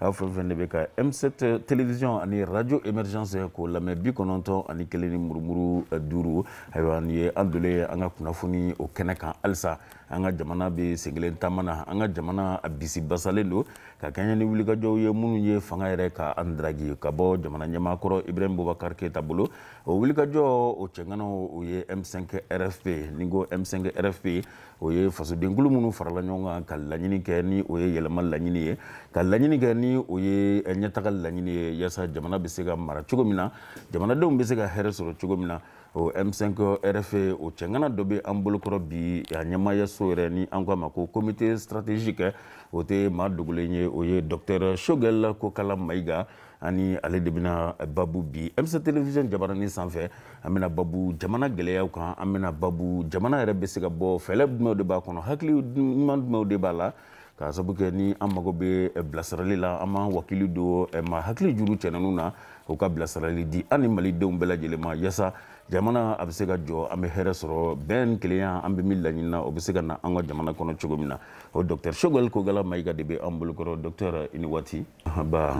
aw fɛn fɛn de bɛ ka M7 télévision ani radio émergence k'o lamɛn bi kɔnɔntɔn ani kelen ni murumuru eh, duuru ayiwa nin ye an dolen ye an ka kunnafoni o kɛnɛ kan halisa an ka jamana bɛ senkelen taama na an ka jamana a bisi basalen don ka kɛɲɛ ni wulikajɔw ye minnu ye fanga yɛrɛ ka an daraki ka bɔ jamana ɲɛmaa kɔrɔ ibrahim boubacar keita bolo o wulikajɔ o cɛŋanaw o ye m5 rfp ni ko m5 rfp o ye fasodenkulu minnu farala ɲɔgɔn kan ka laɲini kɛ ni o ye yɛlɛma laɲini ye ka laɲini kɛ ni o ye eh, ɲɛtaga laɲini ye yaasa jamana bɛ se ka mara cogo min na jamanadenw bɛ se ka hɛrɛ sɔrɔ cogo min na o m5 rfp o cɛŋana dɔ bɛ an bolokɔrɔ bi a ɲɛmaayaso yɛrɛ ni an ko a ma ko comité stratégique o tɛ maa dogolen ye o ye docteur choguel kokala mayiga ani ale de bɛna babu bi M7 télévision jabaranin sanfɛ an bɛna babu jamana gɛlɛyaw kan an bɛna babu jamana yɛrɛ bɛ se ka bɔ fɛɛrɛ jumɛnw de b'a kɔnɔ hakili ɲuman jumɛnw de b'a la k'a sabu kɛ ni an mago bɛ eh, bilasirali la an b'an wakili don eh, maa hakili juru cɛnɛninw na u ka bilasirali di an ni malidenw bɛɛ lajɛlen ma yaasa jamana a bɛ se ka jɔ an bɛ hɛrɛ sɔrɔ bɛn ni kelenya an bɛ min laɲini na o bɛ se ka na an ka jamana kɔnɔ cogo min na o docteur choguel kokala mayiga de bɛ an bolokɔrɔ docteur i ni waati nba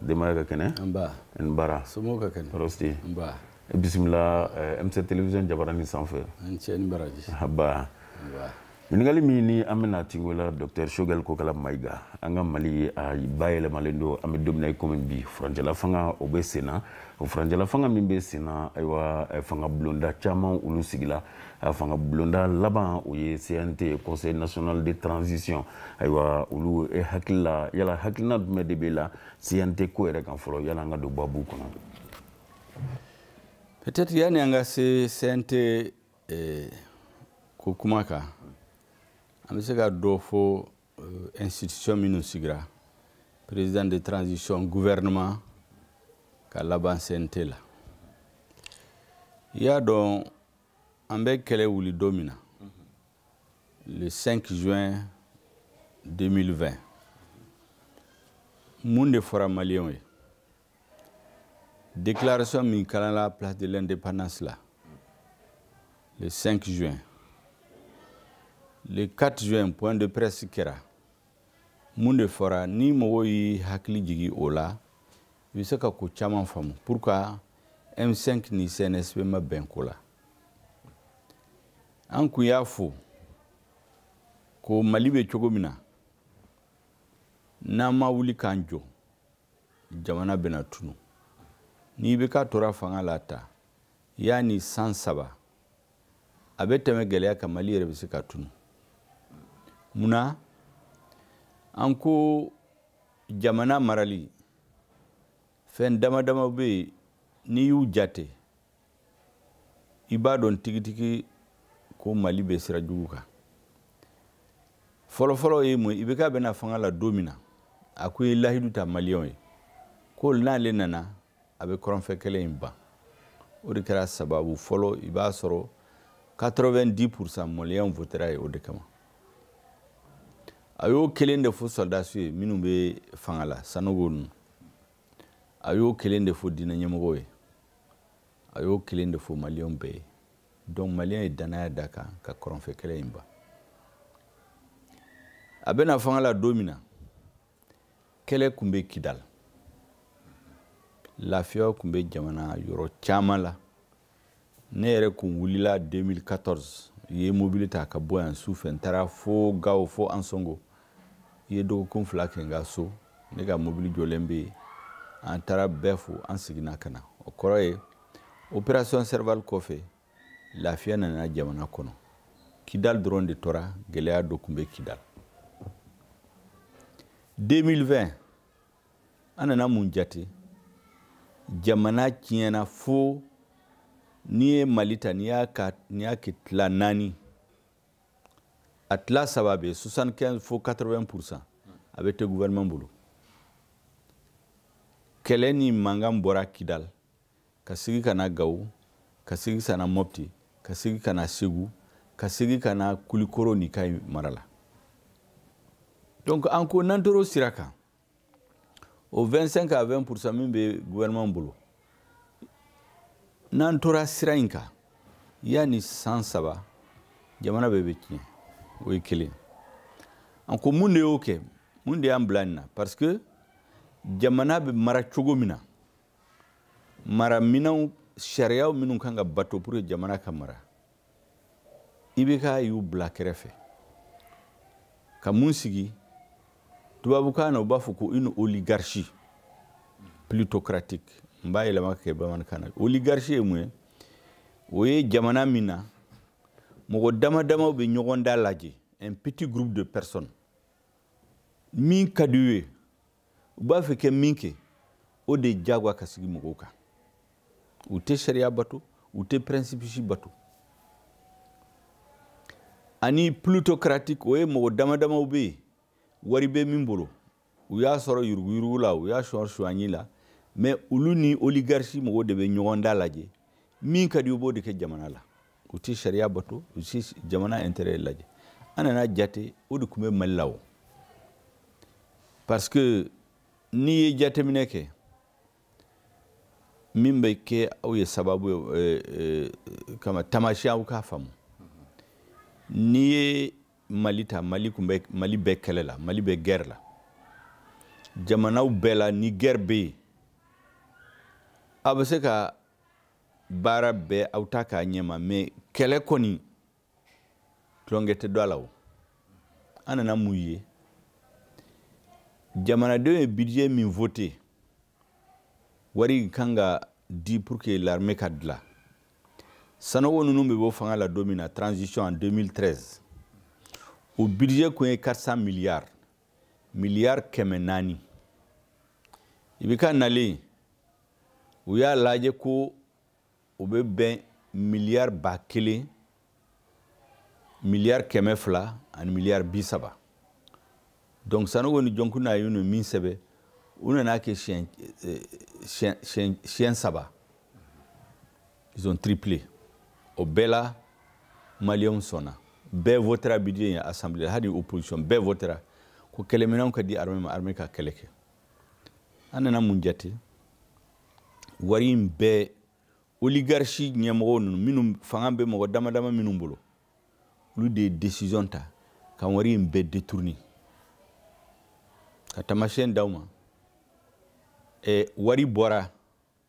denbaya ka kɛnɛ n bara tɔɔrɔ si bisimila eh, M7 télévision jabaranin sanfɛ nba ɲininkali min ni an bɛna tingo la docteur choguel kokala mayiga an ka mali a bayɛlɛmalen don an bɛ don min na i komi bi furancɛla fanga o bɛ senna o furancɛla fanga min bɛ senna ayiwa eh, fanga bulonda caman olu sigila a fanga bulonda laban o ye cnt conseil national de transition ayiwa o la e hakili la yala hakilina jumɛn de b'i la cnt ko yɛrɛ kan fɔlɔ yanni an ka don babu kɔnɔ peut-être yanni an ka se cnt eh, ko kuma kan an bɛ se ka dɔ fɔ eh, institution minnu sigira président de transition gouvernement ka laban cnt la i y'a dɔn an bɛ kɛlɛ wuli don min na le 5 juin 2020 mun de fɔra maliyɛnw ye déclaration min kalanna place de l'indépendance la le 5 juin le 4 juin point de presse kɛra mun de fɔra ni mɔgɔw y'i hakili jigi o la i bɛ se ka ko caman faamu pourquoi m5 ni cnsp ma bɛn ko la an kun y'a fɔ ko mali bɛ cogo min na n'an ma wuli k'an jɔ jamana bɛna tunu ni ibk tora fanga la ta yanni san saba a bɛ tɛmɛ gɛlɛya kan mali yɛrɛ bɛ se ka tunu mun na an ko jamana marali fɛn dama dama bɛ yen n'i y'u jate i b'a dɔn tigitigi ko mali bɛ sira jugu kan fɔlɔfɔlɔ ye mun IBK bɛ na fanga la don min na a kun ye lahidu ta maliyɛnw ye ko n'ale nana a bɛ kɔrɔnfɛ kɛlɛ in ban o de kɛra sababu fɔlɔ i b'a sɔrɔ 90 pourcent maliyɛnw voter'a ye o de kama a y'o kelen de fɔ sɔrɔdasiw ye minnu bɛ fanga la sanogo ninnu a y'o kelen de fɔ diinɛ ɲɛmɔgɔw ye a y'o kelen de fɔ maliyɛnw bɛɛ ye donc maliyɛnw ye dannaya d'a kan ka kɔrɔnfɛ kɛlɛ in ban a bɛ na fanga la don min na kɛlɛ tun bɛ kidal lafiya tun bɛ jamana yɔrɔ caman la ne yɛrɛ kun wulila 2014 n ye mobili ta ka bɔ yan su fɛ n taara fo gawo fo ansongo n ye dɔgɔkun fila kɛ n ka so ne ka mobili jɔlen bɛ yen an taara bɛɛ fo an seginna ka na o kɔrɔ ye operation serval kɔfɛ lafiya nana jamana kɔnɔ kidal dɔrɔn de tora gɛlɛya dɔ tun bɛ kidal 2020 an nana mun jate jamana tiɲɛna fo n'i ye mali ta n'i y'a kɛ tila naani a tila saba bɛɛ 75 fo 80 pourcent a bɛɛ tɛ gouvernement bolo kɛlɛ ni mankan bɔra kidal ka sigi ka na gawo ka sigi ka na mɔpti ka sigi ka na segu ka sigi ka na kulikoro ni kayi mara la donc an ko n'an tor'o sira kan o 25 à 20 pourcent min bɛ gouvernement bolo n'an tora sira in kan yanni san saba jamana bɛɛ bɛ tiɲɛ o ye kelen an ko mun de y'o kɛ mun de y'an bila nin na parce que jamana bɛ mara cogo min na mara minɛnw sariyaw minnu kan ka bato pour que jamana ka mara IBK y'u bila kɛrɛfɛ ka mun sigi tubabukan na u b'a fɔ ko une oligarchie ploutocratique n b'a yɛlɛma ka kɛ bamanankan na oligarchie ye mun ye o ye jamana min na mɔgɔ dama damaw bɛ ɲɔgɔn dalajɛ un petit groupe de personnes min ka d'u ye u b'a fɛ ka min kɛ o de jagoya ka sigi mɔgɔw kan u tɛ sariya bato u tɛ principe si bato ani ploutocratique o ye mɔgɔ dama damaw bɛ yen wari bɛ min bolo u y'a sɔrɔ yuruguyurugu la u y'a sɔrɔ sonyɛni la mais olu ni oligarchie mɔgɔw de bɛ ɲɔgɔn dalajɛ min ka di u b'o de kɛ jamana la u ti sariya bato u ti jamana intérêt lajɛ an nana jate o de tun bɛ mali la o parce que n'i ye jateminɛ kɛ min bɛ kɛ aw ye sababu ye eh, eh, kama tamasiyɛn aw k'a faamu n'i ye mali ta mali tun bɛ mali bɛ kɛlɛ la mali bɛ guerre la jamanaw bɛɛ la ni guerre bɛ yen aw bɛ se ka baara bɛɛ aw ta k'a ɲɛma mais kɛlɛ kɔni tulonkɛ tɛ don a la o an nana mun ye jamanadenw ye budget min vote wari kan ka di pour que l'armée ka dilan sanogo ninnu bɛ bɔ fanga la don min na transition en 2013 o budget kun ye 400 milliards milliards kɛmɛ naani ibk nalen u y'a lajɛ ko o bɛ bɛn miliyari ba kelen miliyari kɛmɛ fila ani miliyari bi saba donc sanogo ni dioncounda ye min sɛbɛn o nana kɛ siɲɛ eh, siɲɛ siɲɛ siɲɛ saba ils ont triplé o bɛɛ la maliyɛnw sɔnna bɛɛ votera budget in assemblée la hali opposition bɛɛ votera ko kɛlɛminɛnw ka di armée ma armée ka kɛlɛ kɛ an nana mun jate wari in bɛɛ oligarchie ɲɛmɔgɔ ninnu minnu fanga bɛ mɔgɔ dama dama minnu bolo olu de ye décision ta ka wari in bɛɛ détourner ka tamasiyɛn d'aw ma eh, wari bɔra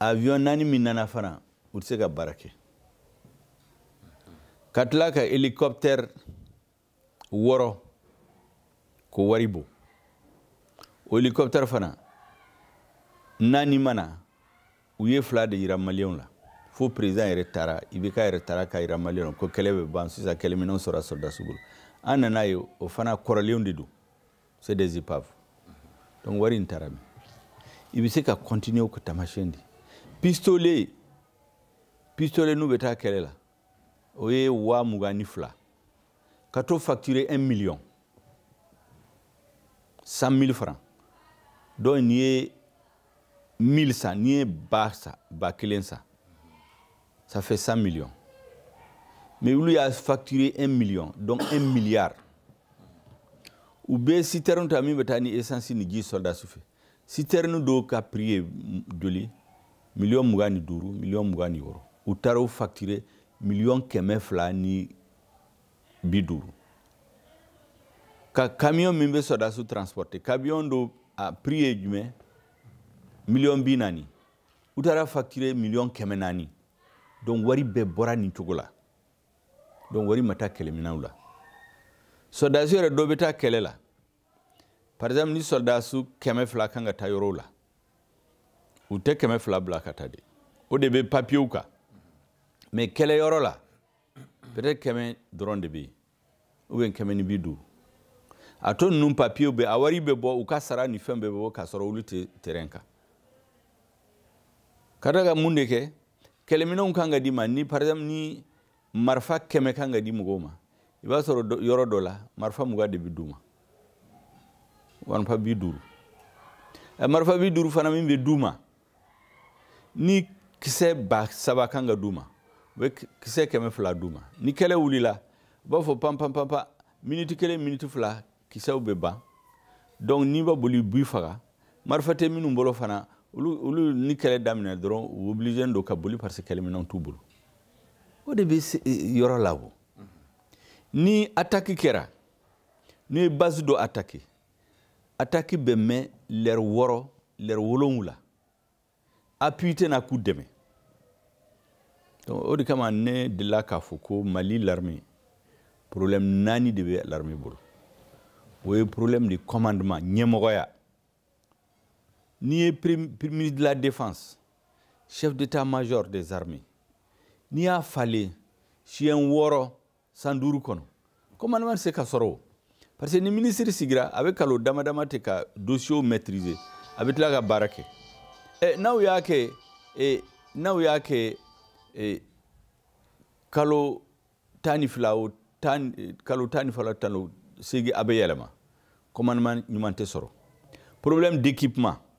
avion naani min nana fana u tɛ se ka baara kɛ ka tila ka hélicoptère wɔɔrɔ ko wari bɔ o hélicoptère fana naani ma na u ye fila de yira maliyɛnw la fo président yɛrɛ taara ibk yɛrɛ taara ka yira maliyɛnw la ko kɛlɛ bɛ ban sisan kɛlɛminɛnw sɔrɔla sɔrɔdasi bolo an nana ye o fana kɔrɔlenw de don c'est des épaves donc wari in taara min i bɛ se ka continuer ka taamasiyɛn di pistolet pistolet n'u bɛ taa kɛlɛ la o ye waa mugan ni fila ka t'o facturer un million cent mille francs donc n'i ye mille san n'i ye ba san ba kelen san ça fait 100 millions mais olu y'a facturé 1 million donc 1 milliard u bɛ citerne ta min bɛ taa ni essence ni ji sɔrɔdasiw fɛ citerne dɔw ka prix ye joli miliyɔn mugan ni duuru miliyɔn mugan ni wɔɔrɔ u taara o facturé miliyɔn kɛmɛ fila ni bi duuru ka camion min bɛ sɔrɔdasiw transporter camion dɔ a prix ye jumɛn miliyɔn bi naani u taara facture miliyɔn kɛmɛ naani donc wari bɛɛ bɔra nin cogo la donc wari ma taa kɛlɛminɛnw la sɔrɔdasi yɛrɛ dɔ bɛ taa kɛlɛ la par exemple ni sɔrɔdasi kɛmɛ fila kan ka taa yɔrɔw la u tɛ kɛmɛ fila bila ka taa de o de bɛ papiyew kan mais kɛlɛyɔrɔ la peut-être kɛmɛ dɔrɔn de bɛ yen ou bien kɛmɛ ni bi duuru a tɔ ninnu papiyew bɛ a wari bɛ bɔ u ka sara ni fɛn bɛɛ bɛ bɔ k'a sɔrɔ olu tɛ terɛn kan ka da ka mun de kɛ kɛlɛminɛnw kan ka d'u ma ni par exemple ni marifa kɛmɛ kan ka di mɔgɔw ma i b'a sɔrɔ yɔrɔ dɔ la marifa mugan de bɛ d'u ma marifa bi duuru marifa bi duuru fana min bɛ d'u ma ni kisɛ ba saba kan ka d'u ma u bɛ kisɛ kɛmɛ fila d'u ma ni kɛlɛ wulila u b'a fɔ panpanpanpa miniti kelen miniti fila kisɛw bɛ ban donc n'i ma boli u b'i faga marifa tɛ minnu bolo fana olu olu ni kɛlɛ daminɛ dɔrɔn u obligé don ka boli parce que kɛlɛminɛnw t'u bolo o de bɛ yɔrɔ la o ni attaque kɛra n'i ye base dɔ attaquer ataki bɛ mɛn lɛri wɔɔrɔ lɛri wolonwula appui tɛ na k'u dɛmɛ o de kama ne delila k'a fɔ ko mali l'armée problème naani de bɛ l'armée bolo o ye problème de commandement ɲɛmɔgɔya n'i ye ministre de la défense chef d'état major des armées n'i y'a falen siɲɛ wɔɔrɔ san duuru kɔnɔ commandement tɛ se ka sɔrɔ o parce que ni minisiri sigira a bɛ kalo dama dama kɛ ka dosiyew maîtriser a bɛ tila ka baara kɛ ɛ n'aw y'a kɛ e n'aw y'a kɛ e kalo tan ni fila o tan kalo tan ni fila tan o seegin a bɛ yɛlɛma commandement ɲuman tɛ sɔrɔ problème d'équipement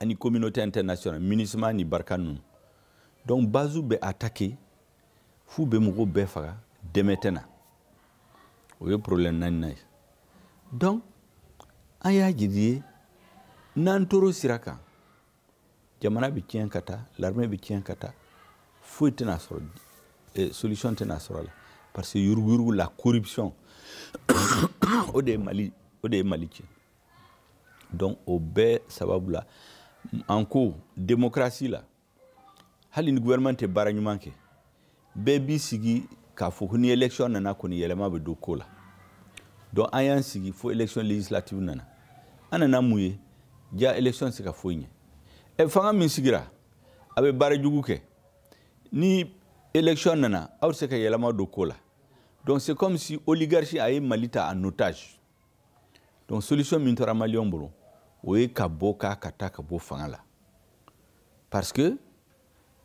ani communauté internationale minusma ni barkhane ninnu donc base bɛ attaqué f'u bɛ mɔgɔw bɛɛ faga dɛmɛ tɛ na o ye problème naaninan ye donc an y'a jiri ye n'an tor'o sira kan jamana bɛ tiɲɛ ka taa l'armée bɛ tiɲɛ ka taa foyi tɛna sɔrɔ eh, solution tɛna sɔrɔ a la parce que yuruguyurugu la corruption o de ye mali o de ye mali tiɲɛ donc o bɛɛ sababu la an ko démocratie la hali ni gouvernement tɛ baara ɲuman kɛ bɛɛ b'i sigi k'a fɔ ko ni élection nana kɔni yɛlɛma bɛ don ko la donc an y'an sigi fo élection législative nana an nana mun ye jaa élection tɛ se ka foyi ɲɛ ɛ fanga min sigira a bɛ baara jugu kɛ ni élection nana aw tɛ se ka yɛlɛma don ko la donc c'est comme si oligarchie a ye mali ta en otage donc solution min tora maliyɛnw bolo o ye ka bɔ k'a ka taa ka bɔ fanga la parce que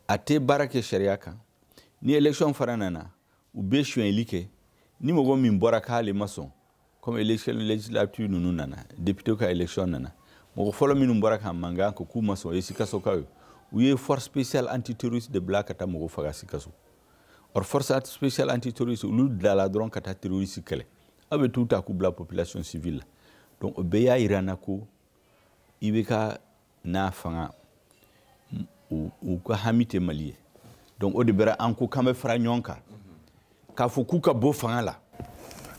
a tɛ baara kɛ sariya kan ni élection fana nana u bɛ sonyɛli kɛ ni mɔgɔ min bɔra k'ale ma sɔn comme élection législative ninnu nana député ka élection nana mɔgɔ fɔlɔ minnu bɔra ka mankan ko k'u ma sɔn o ye sikasokaw ye u ye force spéciale antiterroriste de bila ka taa mɔgɔ faga sikaso or force spéciale antiterroriste olu dilala dɔrɔn ka taa terroriste kɛlɛ aw bɛ t'u ta k'u bila population civile la donc o bɛɛ y'a yira n na ko IBK n'a fanga u ka hami tɛ mali ye donc o de bɛra an ko k'an bɛ fara ɲɔgɔn kan k'a fɔ k'u ka bɔ fanga la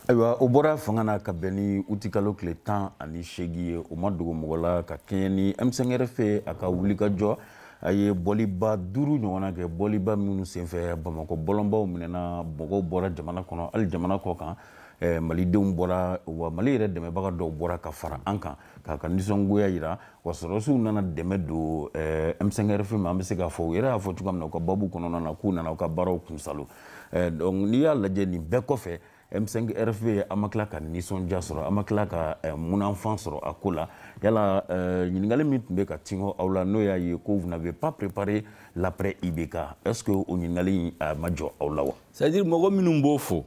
ayiwa o bɔra fanga na ka bɛn ni utikalo tile tan ani seegin ye o ma dogo mɔgɔ la ka kɛɲɛ ni M5 RFP a ka wulikajɔ a ye bɔliba duuru ɲɔgɔnna kɛ bɔliba minnu senfɛ bamakɔ bɔlɔnbaw minɛna mɔgɔw bɔra jamana kɔnɔ hali jamana kɔ kan eh, malidenw bɔra wa mali yɛrɛ dɛmɛbaga dɔw bɔra ka fara an kan k'a ka nisɔngoya yira wa sɔrɔsiw nana dɛmɛ don eh, M5 RFP ma an bɛ se k'a fɔ u yɛrɛ y'a fɔ cogoya min na u ka babu kɔnɔna na k'u nana u ka baaraw kunsalo eh, donc n'i y'a lajɛ nin bɛɛ kɔfɛ M5 RFP an ma tila ka nisɔndiya sɔrɔ an ma tila ka eh, munafan sɔrɔ a ko la yala eh, ɲininkali min tun bɛ ka tingo aw la n'o y'a ye ko vous n'avez pas préparé l'après IBK est ce que o ɲininkali in a ma jɔ aw la wa c'est à dire mɔgɔ minnu b'o fɔ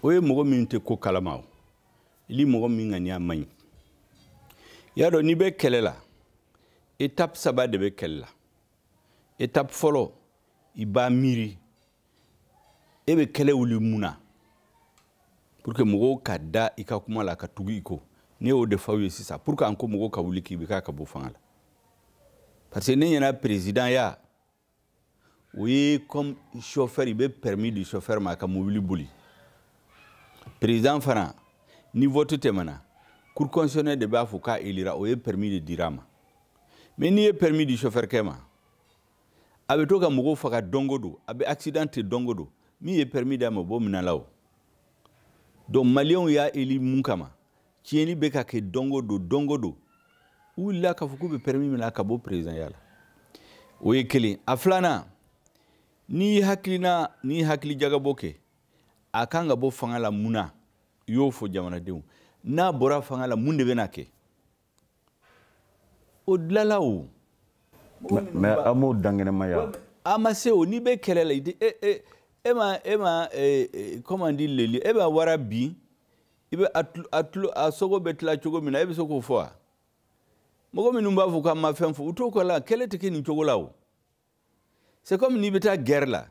o ye mɔgɔ minnu tɛ ko kalama wali mɔgɔ min ŋaniya man ɲi i y'a dɔn n'i bɛ kɛlɛ la étape saba de bɛ kɛlɛ la étape fɔlɔ i b'a miiri e bɛ kɛlɛ wuli mun na pour que mɔgɔw ka da i ka kuma la ka tugu i kɔ ne y'o de f'aw ye sisan pourquoi an ko mɔgɔw ka wuli k'IBK ka bɔ fanga la parce que ne ɲɛ na perezidanya o ye comme chauffeur i bɛ permis di chauffeur ma ka mobili boli perezidan fana ni vote tɛmɛna cour constitutionnelle de b'a fɔ k'a elira o ye permis de dira a ma mais n'i ye permis di chauffeurkɛ ma a bɛ to ka mɔgɔw faga don o don a bɛ accidenté don o don min ye permis d'a ma o b'o minɛ a la o donc maliyɛnw y'a eli mun kama tiɲɛni bɛ ka kɛ don o don don o don u wulila k'a fɔ k'u bɛ permis minɛ ka bɔ perezidanya la o ye kelen a filanan n'i ye hakilina n'i ye hakilijagabɔ kɛ a kan ka bɔ fanga la mun na i y'o fɔ jamanadenw n'a bɔra fanga la mun de bɛna kɛ o dilala o mais an m'o dankɛnɛmaya a ma se o n'i bɛ kɛlɛ la i tɛ e e e ma e ma comment dire le lion e ma wara bin i bɛ a tulo a sogo bɛ tila cogo min na e bɛ se k'o fɔ wa mɔgɔ minnu b'a fɔ k'an ma fɛn fɔ u t'o kɔ la kɛlɛ tɛ kɛ nin cogo la o c'est comme n'i bɛ taa guerre la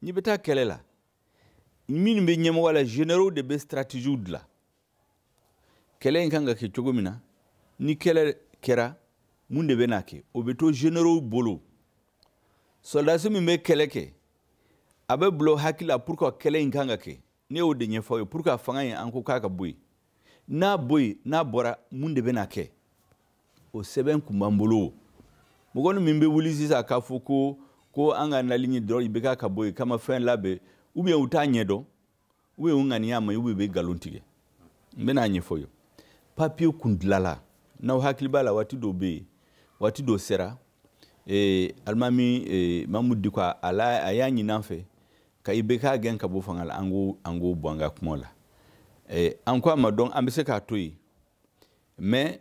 n'i bɛ taa kɛlɛ la minnu bɛ ɲɛmɔgɔ la généraux de bɛ stratégie dilan kɛlɛ in kan ka kɛ cogo min na ni kɛlɛ kɛra mun de bɛna kɛ o bɛ to généraux bolo sɔrɔdasi min bɛ kɛlɛ kɛ a bɛ bila o hakili la pour que kɛlɛ in kan ka kɛ ne y'o de ɲɛfɔ aw ye pour que a fanga in an ko k'a ka bɔ yen n'a bɔ yen n'a bɔra mun de bɛna kɛ o sɛbɛn kun b'an bolo mɔgɔ min bɛ wuli sisan k'a fɔ ko ko an ka nali ɲɛ dɔrɔn IBK ka bɔ yen k'an ma fɛn labɛn ou bien u t'a ɲɛdɔn ou bien u ŋaniya man ɲi ou bien u bɛ nkalon tigɛ n bɛna a ɲɛfɔ ye papiye kun dilala n'aw hakili b'a la waati dɔ bɛ yen waati dɔ sera eh, alimami eh, Mahmoud Dicko a a y'a ɲini an fɛ ka IBK gɛn ka bɔ fanga la an k'o an k'o bɔ an ka kuma la eh, an ko a ma donc an bɛ se k'a to yen mais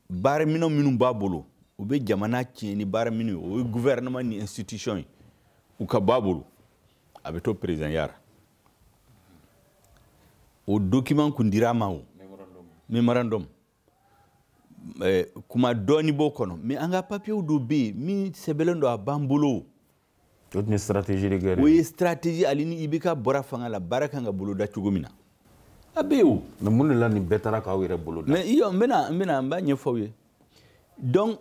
baaraminɛn minnu b'a bolo u bɛ jamana tiɲɛ ni baaraminɛn ye o ye gouvernement ni institution ye u ka b'a bolo a bɛ to présidentya ra o document kun dir'a ma o memorandum kuma dɔɔni b'o kɔnɔ mais an ka papiye dɔ bɛ yen min sɛbɛnlen don a b'an bolo o tun ye stratégie de guerre o ye stratégie ali ni IBK bɔra fanga la baara kan ka boloda cogo min na a bɛ yen o mais mun de la nin bɛɛ taara k'aw yɛrɛ boloda mais iyo n bɛna n bɛna n b'a ɲɛfɔ aw ye donc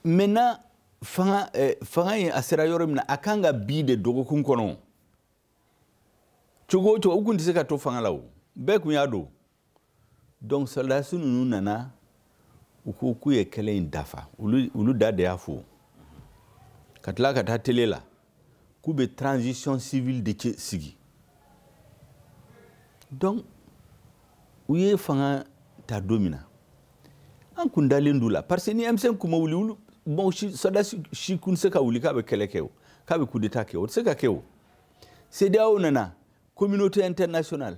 maintenant fanga eh, fanga in a sera yɔrɔ min na a kan ka bin de dɔgɔkun kɔnɔ cogo o cogo u kun tɛ se ka to fanga la o bɛɛ kun y'a dɔn donc sɔrɔdasi ninnu nana u ko k'u ye kɛlɛ in dafa olu, olu da de y'a fɔ ka tila ka taa tele la k'u bɛ transition civile de sigi donc u ye fanga ta don min na an kun dalen d'u la parce que ni M5 kun ma wuli olu mɔgɔ si sɔrɔdasi si kun tɛ se ka wuli k'a bɛ kɛlɛ kɛ o k'a bɛ coup d'état kɛ o tɛ se ka kɛ o CEDEAO nana communauté internationale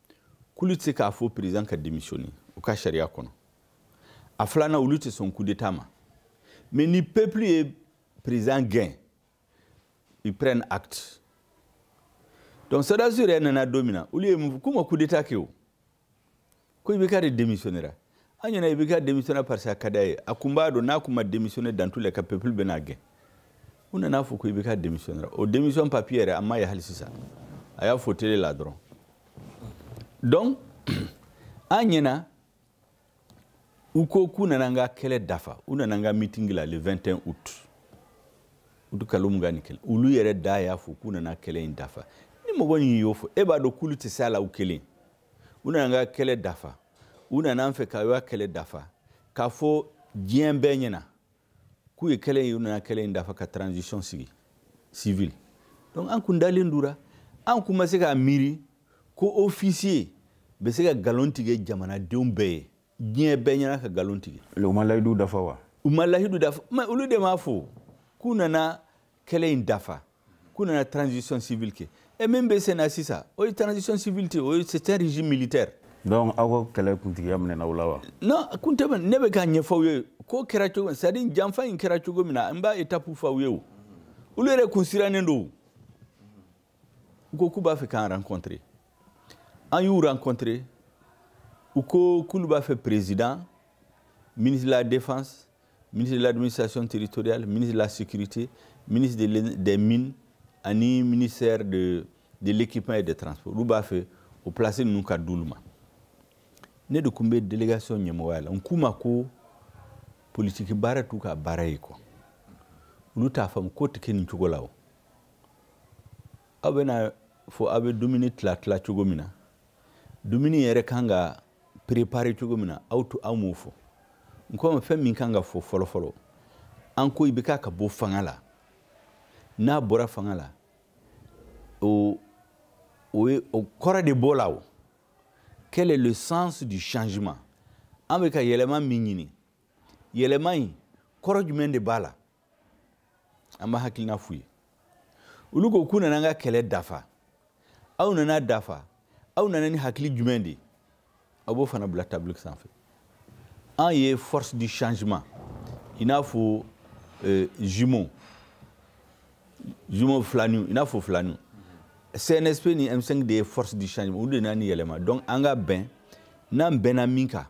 k'olu tɛ se k'a fɔ président ka démissionner u ka sariya kɔnɔ a filanan olu tɛ sɔn coup d'état ma mais ni peuple ye président gɛn ils prennent acte donc sɔrɔdasiw yɛrɛ nana don min na olu ye mun fɔ k'u ma coup d'état kɛ o ko IBK de démissionnera an ɲɛna IBK démissionnera parce que a ka d'a ye a kun b'a dɔn n'a kun ma démissionner dans tous les cas peuple bɛn'a gɛn u nana fɔ ko IBK démissionnera o démission papiye yɛrɛ a ma ye hali sisan a y'a fɔ tele la dɔrɔn donc an ɲɛna u ko k'u nana an ka kɛlɛ dafa u nana an ka mitingi la le 21 août uti kalo mugan ni kelen olu yɛrɛ da y'a fɔ k'u nana kɛlɛ in dafa ni mɔgɔ min y'o fɔ e b'a dɔn k'olu tɛ se a la u kelen u nana an ka kɛlɛ dafa u nana an fɛ ka ka kɛlɛ dafa k'a fɔ diɲɛ bɛɛ ɲɛna k'u ye kɛlɛ in u nana kɛlɛ in dafa ka transition sigi civile donc an kun dalen d'u ra an kun ma se k'a miiri ko officier bɛ se ka nkalon tigɛ jamanadenw bɛɛ ye diɲɛ bɛɛ ɲɛna ka nkalon tigɛ u ma layidu dafa wa u ma layidu dafa olu de m'a fɔ k'u nana kɛlɛ in dafa k'u nana transition civile kɛ et min bɛ senna sisan o ye transition civile tɛ o ye c'est un régime militaire. donc aw ka kɛlɛ kuntigiya minɛna aw la wa. non kun tɛ minɛ ne bɛ k'a ɲɛfɔ aw ye k'o kɛra cogo c'est à dire janfa in kɛra cogo min na n b'a étape fɔ aw ye o olu yɛrɛ kun sirannen don u ko k'u b'a fɛ k'an rencontrer an y'u rencontrer u ko k'olu b'a fɛ président ministre de la défense ministre de l'administration territoriale ministre de la sécurité ministre de des mines ani ministère de de l'équipement et des transports olu b'a fɛ o place ninnu ka d'olu ma ne de tun bɛ délégation ɲɛmɔgɔya la n k'u ma ko politiki baara t'u ka baara ye quoi olu t'a faamu ko tɛ kɛ nin cogo la o aw bɛn'a fɔ aw bɛ dumuni tila tila cogo min na dumuni yɛrɛ kan ka préparer cogo min na aw t'o aw m'o fɔ n k'u ma fɛn min kan ka fɔ fɔlɔfɔlɔ an ko ibk ka bɔ fanga la n'a bɔra fanga la o o ye o kɔrɔ de b'o la o quel est le sens du changement an bɛ ka yɛlɛma min ɲini yɛlɛma in kɔrɔ jumɛn de b'a la an b'a hakilina f'u ye olu ko k'u nana an ka kɛlɛ dafa aw nana dafa aw nana ni hakili jumɛn de ye aw b'o fana bila table sanfɛ an ye force du changement i n'a fɔ euh, jumeau jumeau filaniw i n'a fɔ filaniw cnsp ni m5 de ye force du changement olu de nana ni yɛlɛma donc an ka bɛn n'an bɛnna min kan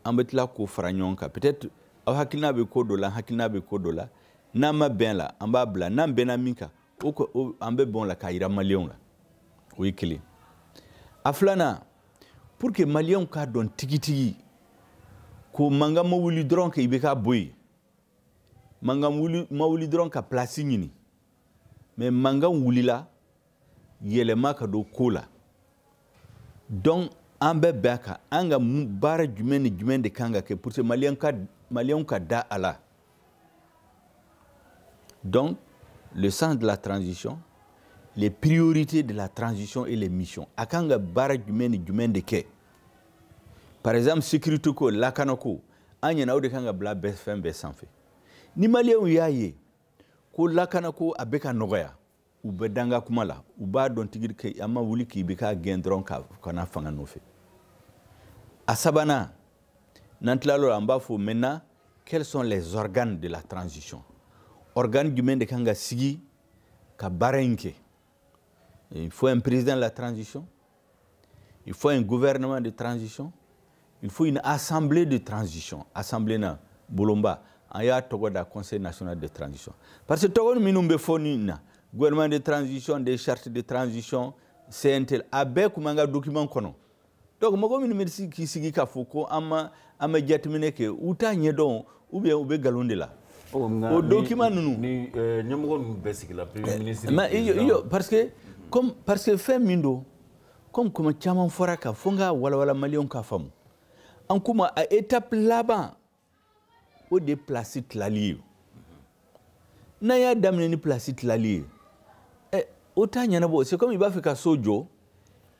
an bɛ tila k'o fara ɲɔgɔn kan peut-être aw hakilina bɛ ko dɔ la an hakilina bɛ ko dɔ la n'an ma bɛn la an b'a bila n'an bɛnna min kan o ko o an bɛ bɛn o la k'a jira maliyɛnw la o ye kelen a filanan pour que maliyɛnw k'a dɔn tigitigi ko mankan ma wuli dɔrɔn ka ibk bɔ yen mankan wuli ma wuli dɔrɔn ka place ɲini mais mankan wulila yɛlɛma ka don ko la donc an bɛ bɛn a kan an ka baara jumɛn ni jumɛn de kan ka kɛ pour que maliyɛn ka maliyɛnw ka da a la donc le sens de la transition les priorités de la transition et les missions a kan ka baara jumɛn ni jumɛn de kɛ par exemple sécurité ko lakana ko an ɲɛna o de kan ka bila bɛɛ fɛn bɛɛ sanfɛ ni maliyɛnw y'a ye ko lakana ko a bɛ ka nɔgɔya u bɛ d'an ka kuma la u b'a dɔn tigitigi ko an ma wuli k'IBK gɛn dɔrɔn ka na fanga nɔfɛ a sabanan n'an tilal'o la an b'a fɔ maintenant quels sont les organes de la transition organe jumɛn de kan ka sigi ka baara in kɛ il faut un président de la transition il faut un gouvernement de transition il faut une assemblée de transition assemblée na bolonba an y'a tɔgɔ da conseil national de transition parce que tɔgɔ minnu bɛ fɔ nin na gouvernement de transition des chartes de transition cntl a bɛɛ kun b'an ka document kɔnɔ donc mɔgɔ minnu bɛ k'i sigi k'a fɔ ko an ma an bɛ jateminɛ kɛ u t'a ɲɛdɔn ou bien u bɛ nkalon de la o dokiman ninnu ni eh, ɲɛmɔgɔ ninnu bɛɛ sigila premier eh, ministre mais iyo parce que comme parce que fɛn min don comme kuma caman fɔr'a kan fo n k'a walawala maliyɛnw k'a faamu an k'u ma a étape laban o de ye place tilali ye n'an y'a daminɛ ni pilasi tilali ye ɛ o t'a ɲɛnabɔ c'est comme i b'a fɛ ka so jɔ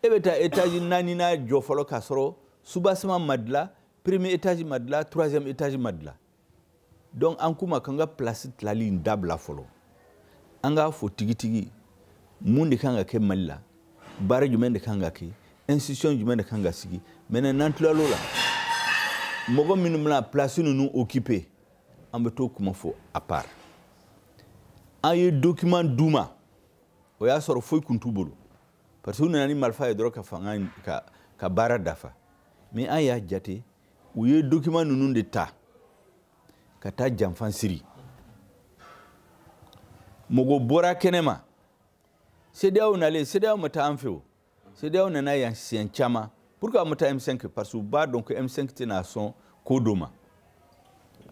e bɛ taa étage naaninan jɔ fɔlɔ k'a sɔrɔ soubassement ma dilan premier étage ma dilan troisième étage ma dilan donc an k'u ma k'an ka pilasi tilali in dabila fɔlɔ an k'a fɔ tigitigi mun de kan ka kɛ mali la baara jumɛn de kan ka kɛ institution jumɛn de kan ka sigi maintenant n'an tilal'o la mɔgɔ minnu bɛna pilasi ninnu okipe an bɛ t'o kuma fɔ à part an ye document d'u ma o y'a sɔrɔ foyi kun t'u bolo parce que u nana ni marifa ye dɔrɔn ka fanga ka ka baara dafa mais an y'a jate u ye document ninnu de ta ka taa janfan siri mɔgɔ bɔra kɛnɛma CEDEAO nalen CEDEAO ma taa an fɛ o CEDEAO nana yan siɲɛ caman pourquoi a ma taa M5 parce que u b'a dɔn ko M5 tɛna sɔn ko dɔ ma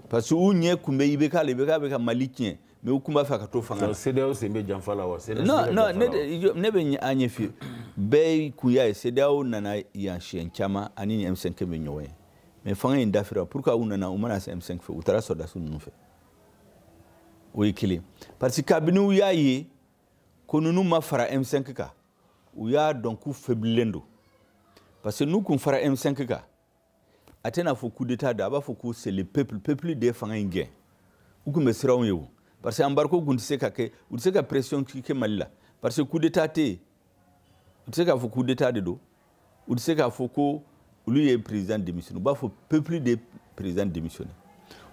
parce que u ɲɛ kun bɛ IBK la IBK bɛ ka Mali tiɲɛ mais u kun b'a fɛ ka to fanga la. CEDEAO sen bɛ janfa la wa? non non ne ne bɛ a ɲɛf'i ye bɛɛ kun y'a ye CEDEAO nana yan siɲɛ caman ani ni M5 bɛ ɲɔgɔn ye mais fanga in dafira pourquoi u nana u ma na se M5 fɛ u taara sɔrɔdasiw ninnu fɛ o ye kelen parce que kabini u y'a ye ko ninnu ma fara M5 kan u y'a dɔn k'u fɛbililen don parce que n'u kun fara m5 kan a tɛna fɔ coup d'état don a b'a fɔ ko c'est le peuple peuple de ye fanga in gɛn u kun bɛ siran o ɲɛ o parce que embargo kun tɛ se ka kɛ u tɛ se ka pression kɛ mali la parce que coup d'état tɛ yen u tɛ se k'a fɔ coup d'état de don u tɛ se k'a fɔ ko olu ye président démissionné u b'a fɔ peuple de président démissionné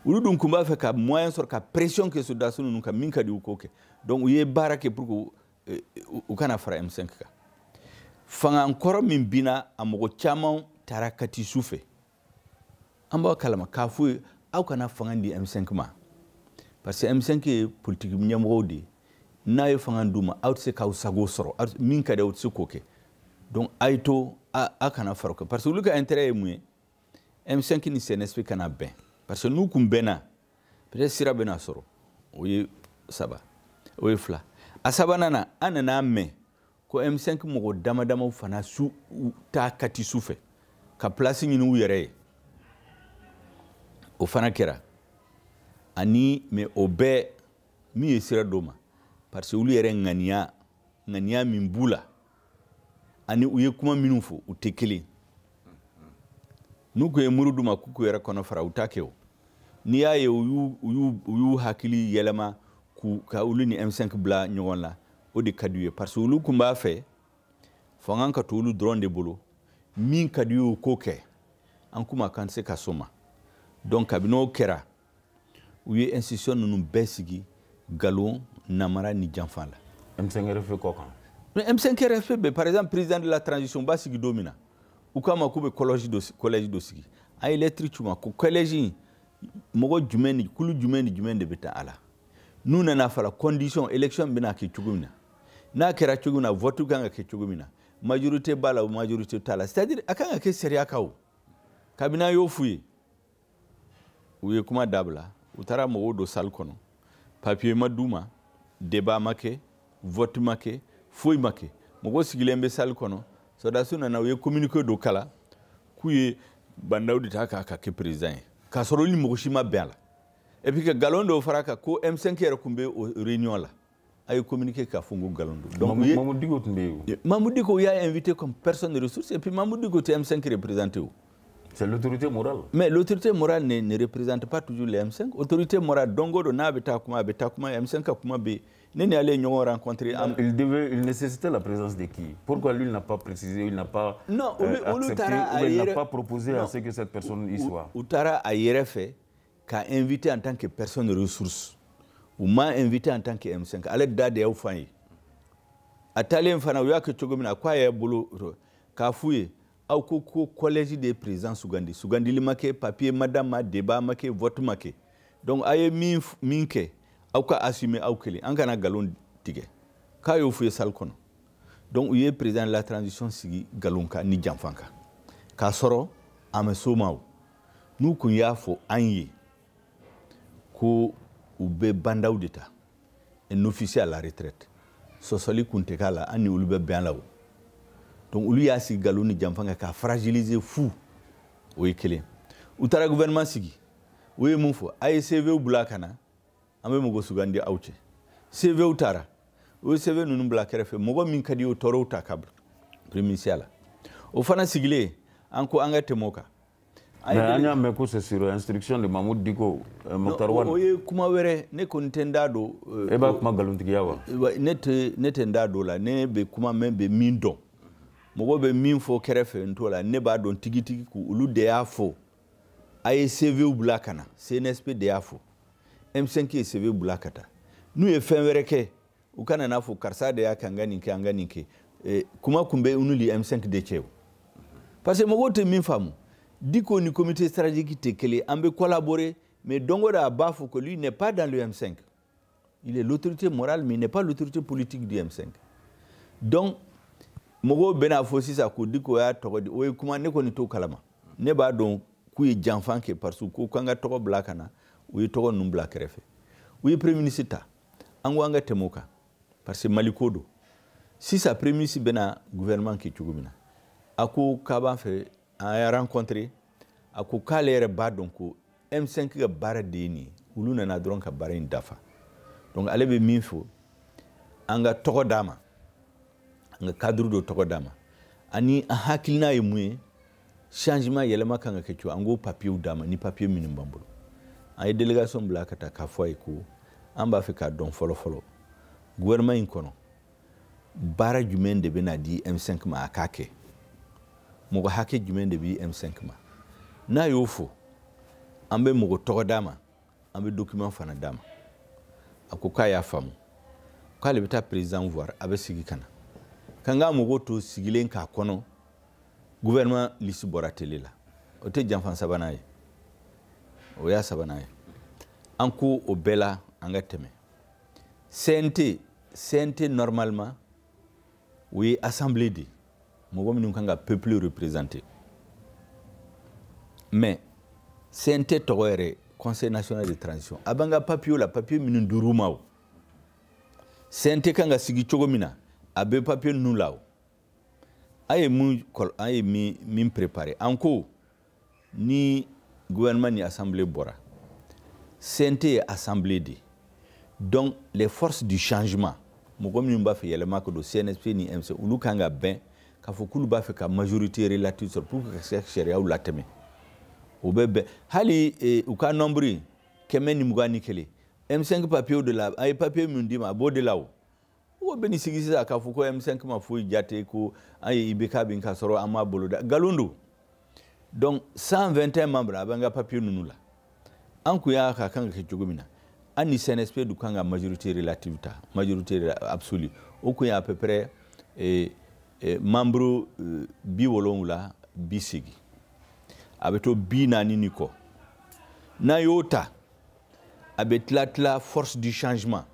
olu dun kun b'a fɛ ka moyen sɔrɔ ka pression kɛ sɔrɔdasi ninnu kan min ka di u k'o kɛ donc u ye baara kɛ pour que eh, u kana fara M5 kan fanga kɔrɔ min binna a mɔgɔ caman taara kati su fɛ an b'a kalama k'a f'u ye aw kana fanga di M5 ma parce que M5 ye politiki ɲɛmɔgɔw de ye n'a ye fanga d'u ma aw tɛ se k'aw sago sɔrɔ min ka di aw tɛ se k'o kɛ donc a ye to a kana fara o kan parce que olu ka intérêt ye mun ye M5 ni CNSP kana bɛn parce que n'u kun bɛnna peut-être sira bɛna sɔrɔ o ye saba o ye fila a sabanan na an nan'a mɛn ko M5 mɔgɔ dama damaw fana su taa kati su fɛ ka place ɲini u yɛrɛ ye o fana kɛra ani mais o bɛɛ min ye sira d'o ma parce que olu yɛrɛ ŋaniya ŋaniya min b'u la ani u ye kuma minnu fɔ u tɛ kelen n'u kun ye muru d'u ma k'u k'u yɛrɛ kɔnɔ fara u t'a kɛ o n'i y'a ye u y'u hakili yɛlɛma k'u ka olu ni M5 bila ɲɔgɔn la o de ka d'u ye parce que olu kun b'a fɛ fanga ka to olu dɔrɔn de bolo min ka d'u ye u k'o kɛ an kuma kan tɛ se ka s'o ma donc kabini o kɛra u ye institution ninnu bɛɛ sigi nkalon namara ni janfa la M5RFP kɔ kan M5RFP bɛ par exemple président de la transition bɛ sigi don min na u k'an ma k'u bɛ collège dɔ collège dɔ sigi an ye lettre ci u ma ko collège in mɔgɔ jumɛn ni kulu jumɛn ni jumɛn de bɛ taa a la n'u nana fara condition élection bɛna kɛ cogo min na n'a kɛra cogo min na vote kan ka kɛ cogo min na majorité b'a la o majorité t'a la c'est à dire a kan ka kɛ sariya kan o kabini an y'o f'u ye u ye kuma dabila u taara mɔgɔw don salle kɔnɔ papier ma d'u ma débat ma kɛ vote ma kɛ foyi ma kɛ mɔgɔw sigilen bɛ salle kɔnɔ sɔrɔdasiw nana u ye communiqué dɔ kalan k'u ye Ba Ndaw de ta k'a ka kɛ président ye k'a sɔrɔ ni mɔgɔ si ma bɛn a la et puis ka nkalon dɔw far'a kan ko M5 yɛrɛ kun bɛ o réunion la a ye communiqué k'a fɔ ko nkalon don. donc Mahmoud Dicko tun bɛ yen o. Mahmoud Dicko u y'a invité comme personne ressource et puis Mahmoud Dicko tɛ M5 représenté o. c'est l'autorité morale. mais l'autorité morale ne ne représente pas toujours le M5 autorité morale don o don n'a bɛ taa kuma a bɛ taa kuma M5 ka kuma bɛ yen ne ni ale ye ɲɔgɔn rencontré. il devait il nécessitait la présence de qui pourquoi lui il n'a pas précisé il n'a pas. non olu euh, olu taara a yɛrɛ il n'a pas proposé à ce que cette personne y soit. u taara a yɛrɛ fɛ. k'a invité en tant que personne ressource u m'a invité en tant que M5 ale da de y'a fɔ an ye a taalen fana u y'a kɛ cogo min na k'a y'a bolo k'a f'u ye aw ko ko collège de ye président sugandi sugandili ma kɛ papier ma d'a ma débat ma kɛ vote ma kɛ donc a ye min min kɛ aw k'a assumer aw kelen an kana nkalon tigɛ k'a y'o f'u ye salle kɔnɔ donc u ye président de la transition sigi nkalon kan ni janfa kan k'a sɔrɔ a ma s'o ma o n'u kun y'a fɔ an ye ko u bɛ ba n'daw de ta un officier à la retraite sɔsɔli kun tɛ k'a la an ni olu bɛ bɛn a la o donc olu y'a sigi nkalon ni janfa kan k'a fragiliser fu o ye kelen u taara gouvernement sigi u ye mun fɔ a ye cvw bila ka na an bɛ mɔgɔ sugandi aw cɛ cvw taara u ye cv ninnu bila kɛrɛfɛ mɔgɔ min ka di u ye u taara o ta ka bila premier ministre la o fana sigilen an ko an ka tɛmɛ o kan mais an y'a mɛn ko c'est sur instruction de Mahmoud Dicko euh, Moctar Ouane o ye kuma wɛrɛ ne kɔni tɛ n da don euh, e b'a kuma nkalontigiya wa ne tɛ ne tɛ n da don o la ne bɛ kuma n bɛ min dɔn mɔgɔ bɛ min fɔ kɛrɛfɛ n t'o la ne b'a dɔn tigitigi ko olu de y'a fɔ a ye CVw bila ka na CNSP de y'a fɔ M5 ye CV bila ka taa n'u ye fɛn wɛrɛ kɛ u kana n'a fɔ karisa de y'a kɛ an ka nin kɛ an ka nin kɛ eh, kuma kun bɛ olu ni m5 de cɛ o parce que mɔgɔw tɛ min faamu dicko ni comité stratégique tɛ kelen an bɛ collaborer mais don o don a b'a fɔ que lui n'est pas dans le m5 il est l'autorité morale mais il n'est pas l'autorité politique du m5 donc mɔgɔw bɛna fɔ sisan ko dicko y'a tɔgɔ di o ye kuma ne kɔni t'o kalama ne b'a dɔn k'u ye janfa kɛ parce que ko k'an ka tɔgɔ bila ka na u ye tɔgɔ ninnu bila kɛrɛfɛ u ye premier ministre ta an ko an ka tɛmɛ o kan parce que mali ko don sisan premier ministre bɛna gouvernement kɛ cogo min na a ko k'a b'a fɛ an y'a rencontré a ko k'ale yɛrɛ b'a dɔn ko m5 ka baara de ye nin ye olu nana dɔrɔn ka baara in dafa donc ale bɛ min fɔ an ka tɔgɔ d'a ma an ka cadre dɔ tɔgɔ d'a ma ani an hakilina ye mun ye changement yɛlɛma kan ka kɛ cogo an k'o papiyew d'a ma ni papiye minnu b'an bolo an ye délégation bila ka taa k'a fɔ a ye ko an b'a fɛ k'a dɔn fɔlɔ fɔlɔ gouvernement in kɔnɔ baara jumɛn de bɛna di M5 ma a k'a kɛ mɔgɔ hakɛ jumɛn de bɛ M5 ma n'a y'o fɔ an bɛ mɔgɔ tɔgɔ d'a ma an bɛ document fana d'a ma a ko k'a y'a faamu k'ale bɛ taa président voir a bɛ segin ka na k'an ka mɔgɔw to sigilen k'a kɔnɔ gouvernement liste bɔra télé la o tɛ janfa sabanan ye o y'a sabanan ye an ko o bɛɛ la an ka tɛmɛ cnt cnt normalement o ye assemblée de ye mɔgɔ minnu kan ka peuple représenter mais CNT tɔgɔ yɛrɛ conseil national de transition a b'an ka papier la papier minnu dir'u ma o CNT kan ka sigi cogo min na a bɛ papier ninnu la o an ye min an ye min préparer an ko ni gouvernement ni assemblée bɔra CNT ye assemblée de donc les forces du changement mɔgɔ minnu b'a fɛ yɛlɛma ka don CNSP ni M5 olu kan ka bɛn k'a fɔ k'olu b'a fɛ ka majorité relative sɔrɔ pour que ka se ka sariyaw latɛmɛ o bɛ bɛn hali eh, u ka nombre kɛmɛ ni mugan ni kelen M5 papier de la a ye papier min d'i ma a b'o de la o mɔgɔ bɛ n'i sigi sisan k'a fɔ ko M5 ma foyi jate ko an ye IBK bin ka sɔrɔ an m'a boloda nkalon don donc 121 membres a bɛ an ka papier ninnu la an kun y'a ka kan ka kɛ cogo min na an ni CNSP tun kan ka majorité relative ta majorité absolue o kun ye à peu près eh, eh, membres eh, bi wolonwula bi seegin a bɛ to bi naani ni kɔ n'a y'o ta a bɛ tila tila force du changement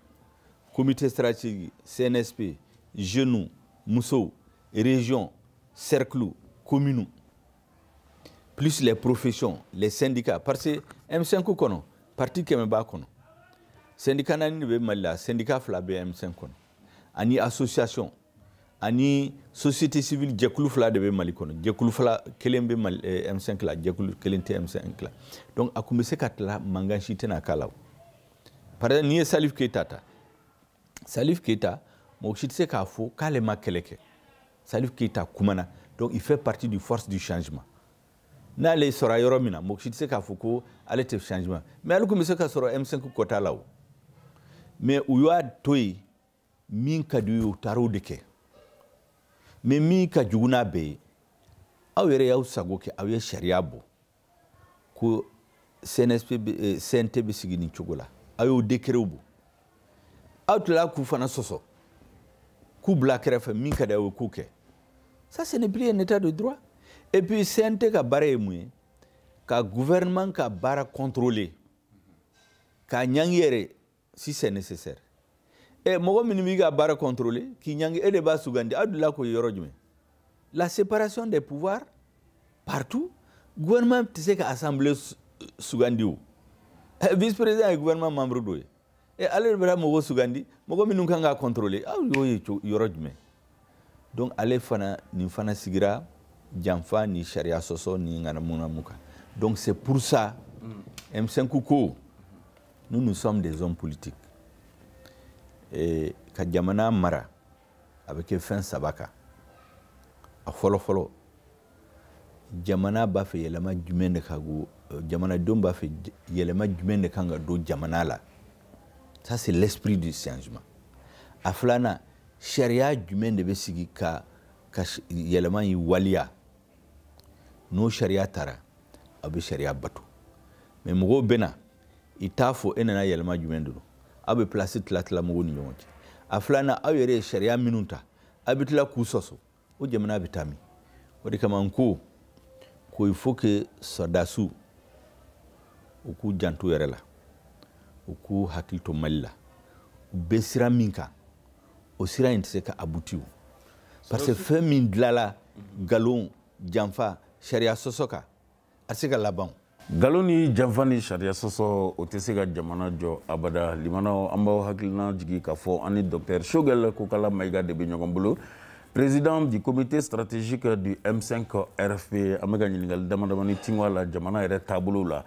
comité stratégique CNSP jeunes musow région cercle commune plus les professions les syndicats parce que M5 kɔnɔ parti kɛmɛ b'a kɔnɔ syndicat naani de bɛ Mali la syndicat fila bɛ M5 kɔnɔ ani association ani société civile jɛkulu fila de bɛ Mali kɔnɔ jɛkulu fila kelen bɛ Mali eh, M5 la jɛkulu kelen tɛ M5 la donc a kun bɛ se ka tila mankan si tɛna k'a la o. par exemple n'i ye salif keyita ta salif keyita mɔgɔ si tɛ se k'a fɔ k'ale ma kɛlɛ kɛ salif keyita kumana donc il fait partie du force du changement n'ale sɔrɔla yɔrɔ min na mɔgɔ si tɛ se k'a fɔ ko ale tɛ changement mais ale kun bɛ se ka sɔrɔ m5 quota la o mais u y'a to yen min ka di u ye u taara o de kɛ mais min ka jugu n'a bɛɛ ye aw yɛrɛ y'aw sago kɛ aw ye sariya bɔ ko cnt bɛ sigi nin cogo la aw y'o décretw bɔ aw tilala k'u fana sɔsɔ k'u bila kɛrɛfɛ min ka di aw ye k'o kɛ ça ce n'est plus un état de droit et puis cnt ka baara ye mun ye ka gouvernement ka baara contrôler k'a ɲangi yɛrɛ si c'est nécessaire ɛ mɔgɔ minnu b'i ka baara contrôler k'i ɲangi e de b'a sugandi aw delila k'o ye yɔrɔ jumɛn la séparation des pouvoirs partout gouvernement tɛ se ka assemblée sugandi o vice président ye gouvernement membre dɔ ye ɛ ale de bɛna mɔgɔw sugandi mɔgɔ minnu kan k'a contrôler aw y'o ye yɔrɔ jumɛn donc ale fana nin fana sigira janfa ni sariya sɔsɔ ni ŋanamunamu kan donc c'est pour ça m5 mm. ko nous nous sommes des hommes politiques ka jamana mara a bɛ kɛ fɛn saba kan a fɔlɔfɔlɔ jamana b'a fɛ yɛlɛma jumɛn de ka go euh, jamanadenw b'a fɛ yɛlɛma jumɛn de kan ka don jamana la ça c'est l'esprit du changement a filanan sariya jumɛn de bɛ sigi ka ka yɛlɛma in waliya n'o sariya tara a bɛ sariya bato mais mɔgɔw bɛ na i t'a fɔ e nana yɛlɛma jumɛn don aw bɛ place tila tila mɔgɔw ni ɲɔgɔn cɛ a filanan aw yɛrɛ ye sariya minnu ta aw bɛ tila k'u sɔsɔ o jamana bɛ taa min o de kama n ko ko il faut que sɔrɔdasiw u k'u janto yɛrɛ la u k'u hakili to mali la u bɛ sira min kan o sira in tɛ se ka aboutir parce que fɛn min dilala nkalon janfa sariya sɔsɔ kan a tɛ se ka laban nkalon ni janfa ni sariya sɔsɔ o tɛ se ka jamana jɔ abada limanaw an b'aw hakili lajigin k'a fɔ an ni docteur Choguel Kokalla Maïga de bɛ ɲɔgɔn bolo président du comité stratégique du m5 rfp an bɛ ka ɲininkali damadamani tingo a la jamana yɛrɛ taabolow la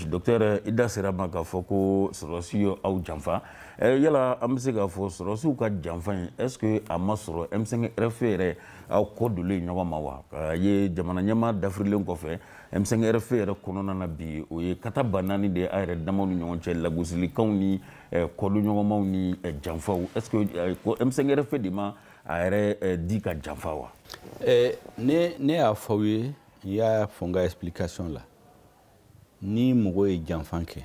docteur i da sera a ma k'a fɔ ko sɔrɔdasiw ye aw janfa yala an bɛ se k'a fɔ sɔrɔdasiw ka janfa in est ce que a ma sɔrɔ m5 rfp yɛrɛ aw kɔ donnen ye ɲɔgɔn ma wa k'a ye jamana ɲɛmaa dafirilen kɔfɛ m5 rfp yɛrɛ kɔnɔna na bi o ye kata ba naani de ye a yɛrɛ damaw ni ɲɔgɔn cɛ lagosilikanw ni eh, kɔdonɲɔgɔnmaw ni eh, janfaw est ce que eh, ko m5 rfp de ma a yɛrɛ di ka janfa wa ne ne y'a fɔ aw ye n y'a fɔ n ka explication la ni mɔgɔ ye janfan kɛ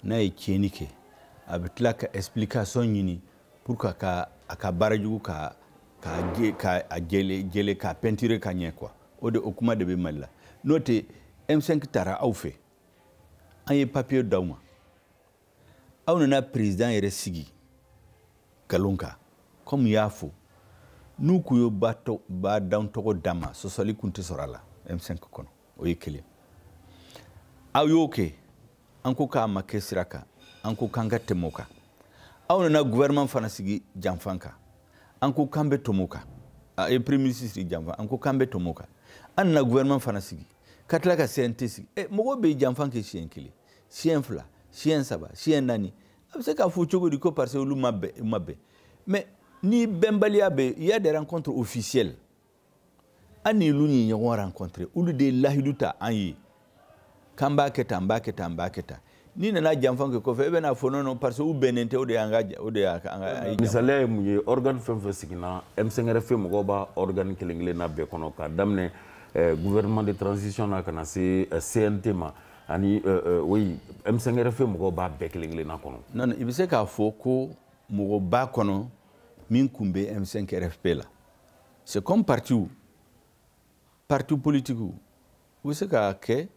n'a ye tiɲɛni kɛ a bɛ tila ka explication ɲini pour que ka a ka baara jugu ka ka ka a jɛle jɛle ka peinture ka ɲɛ quoi o de o kuma de bɛ mali la n'o tɛ M5 taara aw fɛ an ye papier d'aw ma aw nana président yɛrɛ sigi nkalon kan comme y'a fɔ n'u kun ye Ba Ndaw tɔgɔ d'an ma sɔsɔli kun tɛ sɔrɔ a la M5 kɔnɔ o ye kelen aw y'o kɛ an ko k'a ma kɛ sira kan an ko k'an ka tɛmɛ o kan aw nana gouvernement fana sigi janfan kan an ko k'an bɛ tɛmɛ o kan a ye premier ministre sigi janfan an ko k'an bɛ tɛmɛ o kan an nana gouvernement fana sigi ka tila ka CNT sigi ɛ mɔgɔw bɛ janfan kɛ siɲɛ kelen siɲɛ fila siɲɛ saba siɲɛ naani a bɛ se k'a fɔ cogo di ko parce que olu ma bɛn ma bɛn mais ni bɛnbaliya bɛ il y a des rencontres officielles an ni olu ye ɲɔgɔn rencontrer olu de ye lahidu ta an ye k'an b'a kɛ tan n b'a kɛ tan n b'a kɛ tan n'i nana janfa kɛ kɔfɛ e bɛna fɔ non parce que u bɛnnen tɛ o de y'an ka o de y'an ka misaliya ye mun ye organe fɛn fɛn siginna M5 RFP mɔgɔw b'a organe kelen kelen na bɛɛ kɔnɔ k'a daminɛ eh, gouvernement de transition na ka na se eh, CNT ma ani oui eh, M5 RFP mɔgɔw b'a bɛɛ kelen kelen na kɔnɔ non i bɛ se k'a fɔ ko mɔgɔ b'a kɔnɔ min tun bɛ M5 RFP la c'est comme partiw parti politiki u bɛ se k'a kɛ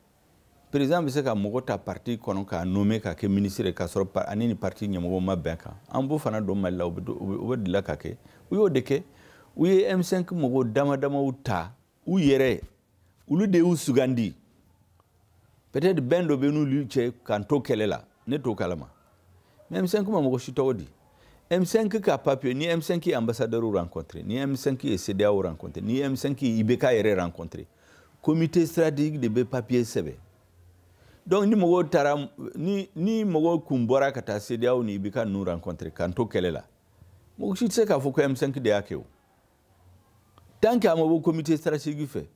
par exemple bɛ se ka mɔgɔ ta parti kɔnɔ k'a nome k'a kɛ minisiri k'a sɔrɔ ani ni parti ɲɛmɔgɔ ma bɛn kan an b'o fana dɔn mali la o bɛ deli ka kɛ u y'o de kɛ u ye m5 mɔgɔ dama damaw ta u yɛrɛ olu de y'u sugandi peut-être bɛn dɔ bɛ n'olu cɛ k'an to kɛlɛ la ne t'o kalama mais M5 ma mɔgɔ si tɔgɔ di M5 ka papier ni M5 ye ambassadeur rencontré ni M5 ye CEDEAO rencontré ni M5 ye IBK yɛrɛ rencontré comité stratégique de bɛ papier sɛbɛn donc ni mɔgɔw taara ni ni mɔgɔw kun bɔra ka taa CEDEAO ni IBK ninnu rencontré k'an to kɛlɛ la mɔgɔ si tɛ se k'a fɔ ko M5 de y'a kɛ o tant que a ma bɔ comité stratégique fɛ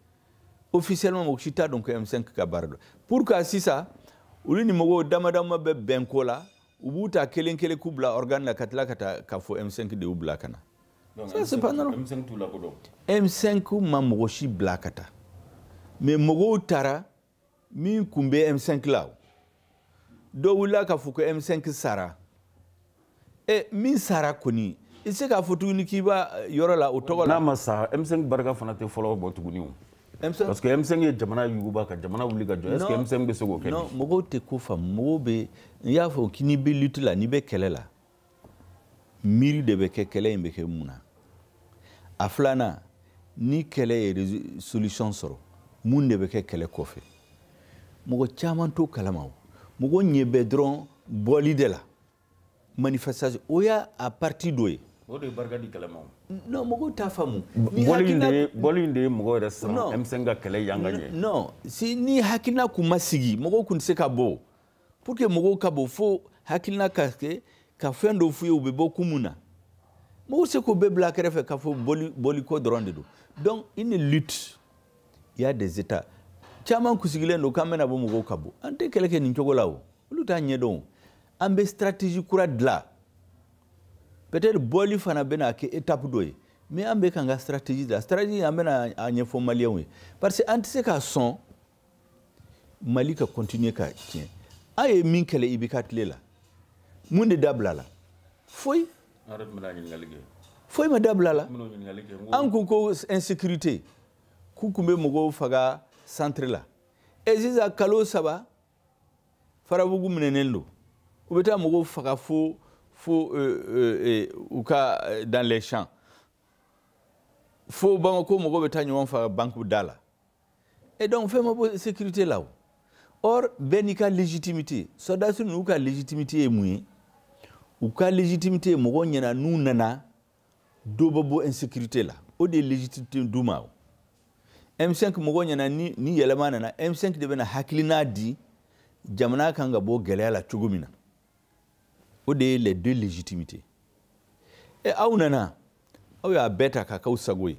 officiellement mɔgɔ si t'a dɔn ko M5 ka baara don pour que sisan olu ni mɔgɔw dama dama bɛ bɛn ko la u b'u ta kelen kelen k'u bila organe la ka tila ka taa k'a fɔ M5 de y'u bila ka na ça c'est pas normal M5 t'u lakodɔn M5 ma mɔgɔ si bila ka taa mais mɔgɔw taara min kun bɛ m5 la dɔ wulila k'a fɔ ko m5 sara e min sara kɔni i se k'a fɔ tuguni k'i b'a eh, yɔrɔ la o tɔgɔ la n'a ma sa m5 barika fana tɛ fɔlɔ bɔ tuguni o parce que m5 ye jamana yuguba ka jamana wuli ka jɔ est ce que m5 bɛ se k'o kɛ non mɔgɔw tɛ ko faamu mɔgɔw bɛ n y'a fɔ ko n'i bɛ lutte la n'i bɛ kɛlɛ la miiri de bɛ kɛ kɛlɛ in bɛ kɛ mun na a filanan ni kɛlɛ ye solution sɔrɔ mun de bɛ kɛ kɛlɛ kɔfɛ mɔgɔ caman t'o kalama o mɔgɔ ɲɛ bɛ dɔrɔn bɔli de la manifestation o y'a a partie dɔ ye o de ye barika di kɛlɛ ma non mɔgɔw t'a faamu bɔli in de ye bɔli in de ye mɔgɔ yɛrɛ siran M5 ka kɛlɛ yan ka ɲɛ non si ni hakilina kun ma sigi mɔgɔw kun tɛ se ka bɔ pour que mɔgɔw ka bɔ fo hakilina ka kɛ ka fɛn dɔw f'u ye u bɛ bɔ kun mun na mɔgɔw se k'o bɛɛ bila kɛrɛfɛ k'a fɔ bɔli bɔliko dɔrɔn de don donc une lutte il y a des étapes caman k'u sigilen don k'an bɛna bɔ mɔgɔw ka bɔ an tɛ kɛlɛ kɛ nin cogo la o olu t'a ɲɛdɔn an bɛ stratégie kura dilan peut-être bɔli fana bɛna kɛ étape dɔ ye mais an bɛ k'an ka stratégie dilan stratégie an bɛna a ɲɛfɔ maliyɛnw ye parce que an tɛ se ka sɔn mali ka kɔntiniye ka tiɲɛ an ye min kɛlɛ IBK tile la mun de dabilala foyi foyi ma dabila a la an ko ko insécurité k'u kun bɛ mɔgɔw faga centre la e sisan kalo saba farabugu minɛnen don u bɛ taa mɔgɔw faga fo fo euh, euh, euh, u ka dans les champs fo bamako mɔgɔw bɛ taa ɲɔgɔn faga banque da la et donc fɛn ma bɔ insécurité la o or bɛɛ n'i ka légitimité sɔrɔdasi ninnu ka légitimité ye mun ye u ka légitimité ye mɔgɔw ɲɛna n'u nana dɔ bɛ bɔ insécurité la o de ye légitimité d'u ma o M5 mɔgɔw ɲɛna ni ni yɛlɛma nana M5 de bɛna hakilina di jamana kan ka bɔ gɛlɛya la cogo min na o de ye les deux légitimités e aw nana aw y'a bɛɛ ta k'a k'aw sago ye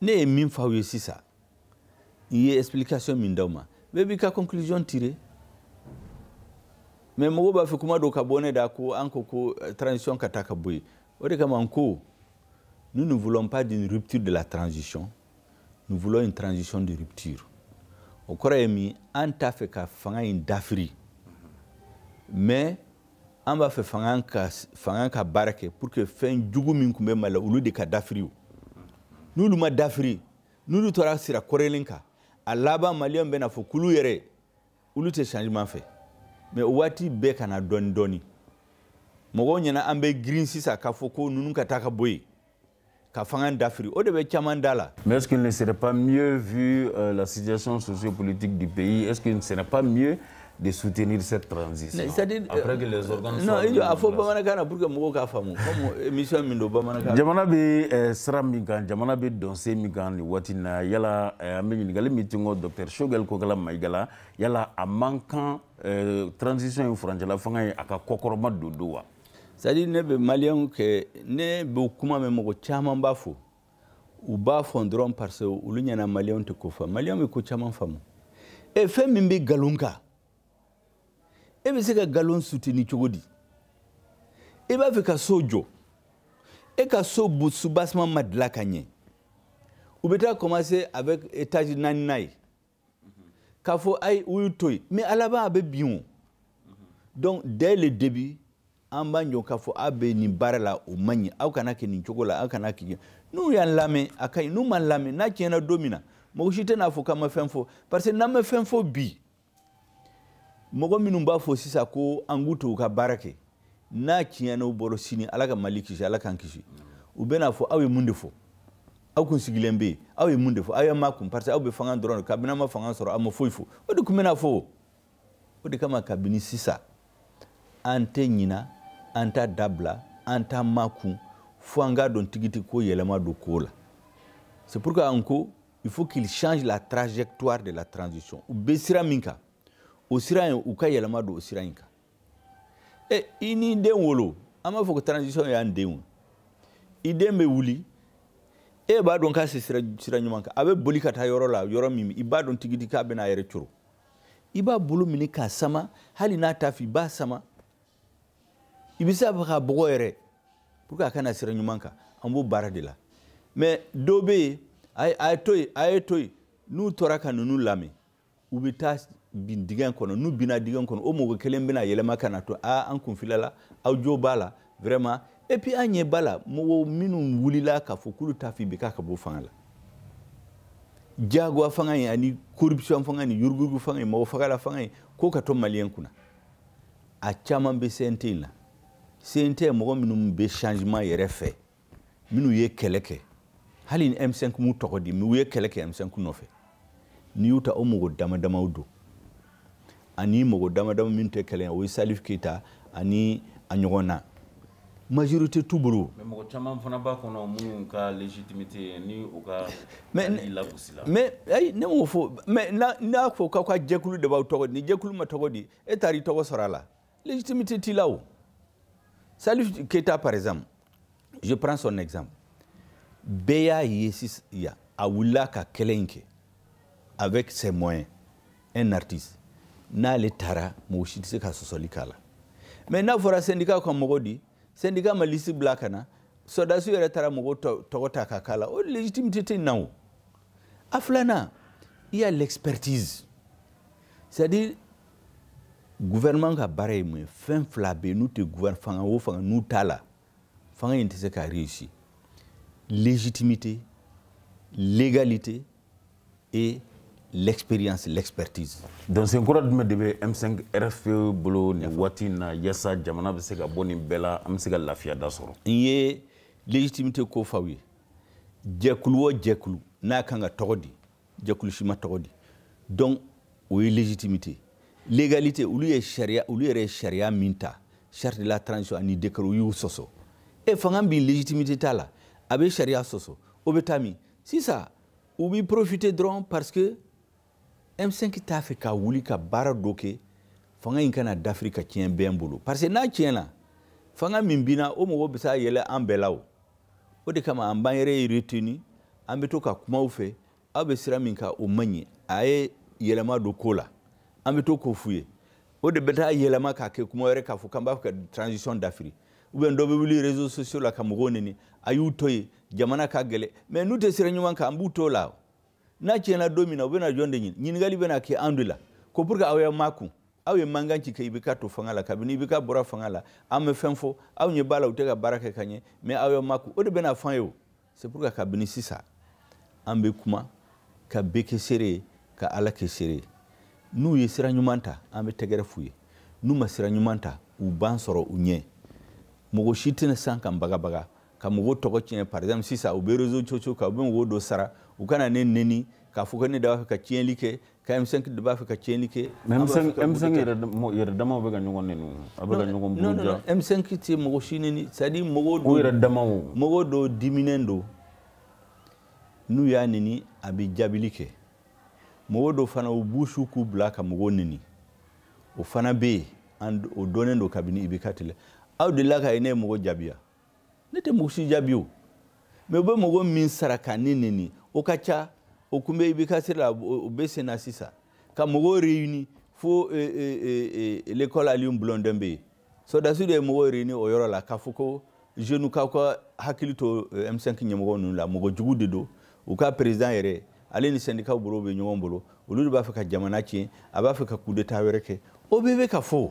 ne ye min f'aw ye sisan n ye explication min d'aw ma bɛɛ b'i ka conclusion tirer mais mɔgɔw b'a fɛ kuma dɔ ka bɔ ne da ko an ko ko euh, transition ka taa ka bɔ yen o de kama n ko nous ne voulons pas d'une rupture de la transition nous voulons une transition de rupture o kɔrɔ ye min an t'a fɛ ka fanga in dafiri mais an b'a fɛ fanga ka fanga ka baara kɛ pour que fɛn jugu min tun bɛ mali la olu de ka dafiri n'olu ma dafiri n'olu tora sira kɔrɔlen kan a laban maliyɛnw bɛna fɔ k'olu yɛrɛ olu tɛ changement fɛ mais o waati bɛ ka na dɔɔni dɔɔni mɔgɔw ɲɛna an bɛ girin sisan k'a fɔ ko ninnu ka taa ka bɔ yen ka fanga dafiri o de bɛ caman da la. mais est ce qu'il ne serait pas mieux vu euh, la situation sociopolitique du pays est ce qu'il ne serait pas mieux de soutenir cette transition. c'est à dire après que les organes. non il a fɔ bamanankan na pour que mɔgɔw k'a faamu comme émission min don bamanankan. jamana bɛ eh, sira min kan jamana bɛ dɔnsen min kan nin waati in na yala eh, an bɛ ɲininkali min tinko docteur Choguel Kokalla Maïga la yala a man kan eh, transition in furancɛla fanga ye a ka kɔkɔrɔmadondon wa. c'est à dire ne bɛ maliyɛnw kɛ ne bɛ kuma mɛn mɔgɔ caman b'a fɔ u b'a fɔ dɔrɔn parce que olu ɲɛna maliyɛnw tɛ ko faamu maliyɛnw bɛ ko caman faamu e fɛn min bɛ nkalon kan e bɛ se ka nkalon soutenir cogo di i b'a fɛ ka so jɔ e ka so soubassement ma dilan ka ɲɛ u bɛ taa commencer avec étage naaninan ye k'a fɔ ayi u y'u to yen mais a laban a bɛ bin o donc dès le début an b'an jɔ k'a fɔ a bɛ nin baara la o man ɲi aw kana kɛ nin cogo la aw kana kɛ n'u y'an lamɛn a ka ɲi n'u m'an lamɛn n'a tiɲɛna don min na mɔgɔ si tɛna fɔ k'an ma fɛn fɔ parce que n'an ma fɛn fɔ bi mɔgɔ minnu b'a fɔ sisan ko an k'u to u ka baara kɛ n'a tiɲɛna u bolo sini ala ka mali kisi ala k'an kisi u bɛna fɔ aw ye mun de fɔ aw kun sigilen bɛ yen aw ye mun de fɔ aw y'aw makun parce que aw bɛ fanga dɔrɔn de kabini aw ma fanga sɔrɔ aw ma foyi fɔ o de tun bɛna fɔ o de kama kabini sisan an tɛ ɲina an t'a dabila an t'an makun fo an k'a dɔn tigiti ko yɛlɛma don ko la c'est pourquoi an ko il faut qu'il change la trajectoire de la transition u bɛ sira min kan o sira in u ka yɛlɛma don o sira in kan e i n'i den wolo an b'a fɔ ko transition y'an denw i den bɛ wuli e b'a dɔn k'a se sira sira ɲuman kan a bɛ boli ka taa yɔrɔ la yɔrɔ min i b'a dɔn tigidi k'a bɛna a yɛrɛ coro i b'a bolo minɛ k'a sama hali n'a t'a fɛ i b'a sama i bɛ se a fɛ k'a bugɔ yɛrɛ pour que a ka na sira ɲuman kan an b'o baara de la mais dɔw bɛ yen a ye to yen a ye to yen n'u tora ka ninnu lamɛn u bɛ taa bin dingɛ kɔnɔ n'u binna dingɛ kɔnɔ o mɔgɔ kelen bɛna yɛlɛma ka n'a fɔ aa an kun filila aw jo b'a la vraiment et puis an ɲɛ b'a la mɔgɔ minnu wulila k'a fɔ k'olu t'a fɛ IBK ka bɔ fanga la jagoya fanga in ani corruption fanga ni yuruguyurugu fanga in mɔgɔ fagala fanga in k'o ka to maliyɛn kunna a caman bɛ CNT in na CNT mɔgɔ minnu bɛ changement yɛrɛ fɛ minnu ye kɛlɛ kɛ hali ni M5 m'u tɔgɔ di u ye kɛlɛ kɛ M5 nɔfɛ n'i y'u ta o mɔgɔ dama damaw don ani mɔgɔ dama dama minnu tɛ kɛlɛ o ye Salif Keita ani a ɲɔgɔnna majorité t'u bolo mais mɔgɔ caman fana b'a kɔnɔ minnu ka légitimité ni u ka lagosila mais ayi ne m'o fɔ mais n'a fɔ k'aw ka jɛkulu de b'aw tɔgɔ di ni jɛkulu ma tɔgɔ di e taar'i tɔgɔ sɔrɔ a la Légitimité t'i la o. Salif Keita par exemple, je prends son exemple. Bɛɛ y'a ye sisan a wulila ka kɛlɛ in kɛ avec ses moyens un artiste n'ale tara mɔgɔ si tɛ se ka sɔsɔli k'a la mais n'a fɔra syndicat ka mɔgɔ di syndicat ma liste bila ka na sɔrɔdasiw yɛrɛ taara mɔgɔw tɔgɔ ta ka k'a la o légitimité tɛ na o a filanan il y a l'expertise c'est-à-dire gouvernement ka baara ye mun ye fɛn fila bɛ yen n'u tɛ fanga o fanga n'u t'a la fanga in tɛ se ka réussir légitimité légalité et l'expérience l'expertise donc sen kura jumɛn de bɛ M5 RFP bolo nin waati in na yaasa jamana bɛ se ka bɔ nin bɛɛ la an bɛ se ka lafiya da sɔrɔ n ye légitimité ko f'aw ye jɛkulu o jɛkulu n'a kan ka tɔgɔ di jɛkulu si ma tɔgɔ di donc o ye légitimité légalité olu ye sariya olu yɛrɛ ye sariya min ta charte de la transition ani décret u y'u sɔsɔ e fanga min légitimité t'a la a bɛ sariya sɔsɔ o bɛ taa min sisan u bɛ profiter dɔrɔn parce que M5 t'a fɛ ka wuli ka baara dɔ kɛ fanga in kana dafiri ka tiɲɛ bɛɛ bolo parce que n'a tiɲɛna fanga min binna o mɔgɔ bɛ se ka yɛlɛ an bɛɛ la o o de kama an b'an yɛrɛ retenir an bɛ to ka kuma u fɛ aw bɛ sira min kan o man ɲi a ye yɛlɛma don ko la an bɛ to k'o f'u ye o de bɛ taa yɛlɛma k'a kɛ kuma wɛrɛ k'a fɔ k'an b'a fɛ ka transition dafiri ou bien dɔ bɛ wuli réseaux sociaux la ka mɔgɔw neni a y'u to yen jamana ka gɛlɛn mais n'u tɛ sira ɲuman kan an b'u to la n'a tiɲɛna don min na u bɛna jɔn de ɲini ɲininkali bɛna kɛ an de la ko pourquoi aw y'a makun aw ye mankan ci kɛ IBK to fanga la kabini IBK bɔra fanga la aw ma fɛn fɔ aw ɲɛ b'a la u tɛ ka baara kɛ ka ɲɛ mais aw y'a makun o de bɛna fɔ an ye o c'est pourquoi kabini sisan an bɛ kuma ka bɛɛ kɛ seere ye ka ala kɛ seere ye n'u ye sira ɲuman ta an bɛ tɛgɛrɛ f'u ye n'u ma sira ɲuman ta u b'an sɔrɔ u ɲɛ mɔgɔ si tɛna se k'an bagabaga ka mɔgɔw tɔgɔ tiɲɛ par exemple sisan u bɛ réseaux sociaux kan u bɛ mɔgɔw dɔ sara u ka na ne neni k'a fɔ ko ne de b'a fɛ ka tiɲɛli kɛ ka M5 de b'a fɛ ka tiɲɛli kɛ M5 yɛrɛ damaw bɛ ka ɲɔgɔn neni a bɛ ka ɲɔgɔn buruja M5 tɛ mɔgɔ si neni c'est à dire mɔgɔw dɔw yɛrɛ damaw mɔgɔw dɔw diminen don n'u y'a neni a bɛ jaabili kɛ mɔgɔw dɔw fana u b'u k'u bila ka mɔgɔw neni o fana bɛ yen o dɔnnen don kabini IBK tile aw delila ka ye ne ye mɔgɔ jaabi wa ne tɛ mɔgɔ si jaabi o mais u bɛ mɔgɔ min sara ka ne neni o ka ca o kun bɛ IBK sira la o bɛ sen na sisan ka mɔgɔw réuni fo eh, eh, eh, l'école Alioune Blondin Beye sɔrɔdasi de ye mɔgɔw réuni o yɔrɔ la k'a fɔ ko jeunes k'aw ka hakili to M5 ɲɛmɔgɔ ninnu la mɔgɔ jugu de don u ka président yɛrɛ ale ni syndicats bolo bɛ ɲɔgɔn bolo olu de b'a fɛ ka jamana tiɲɛ a b'a fɛ ka coup d'état wɛrɛ kɛ o bɛɛ bɛ ka fɔ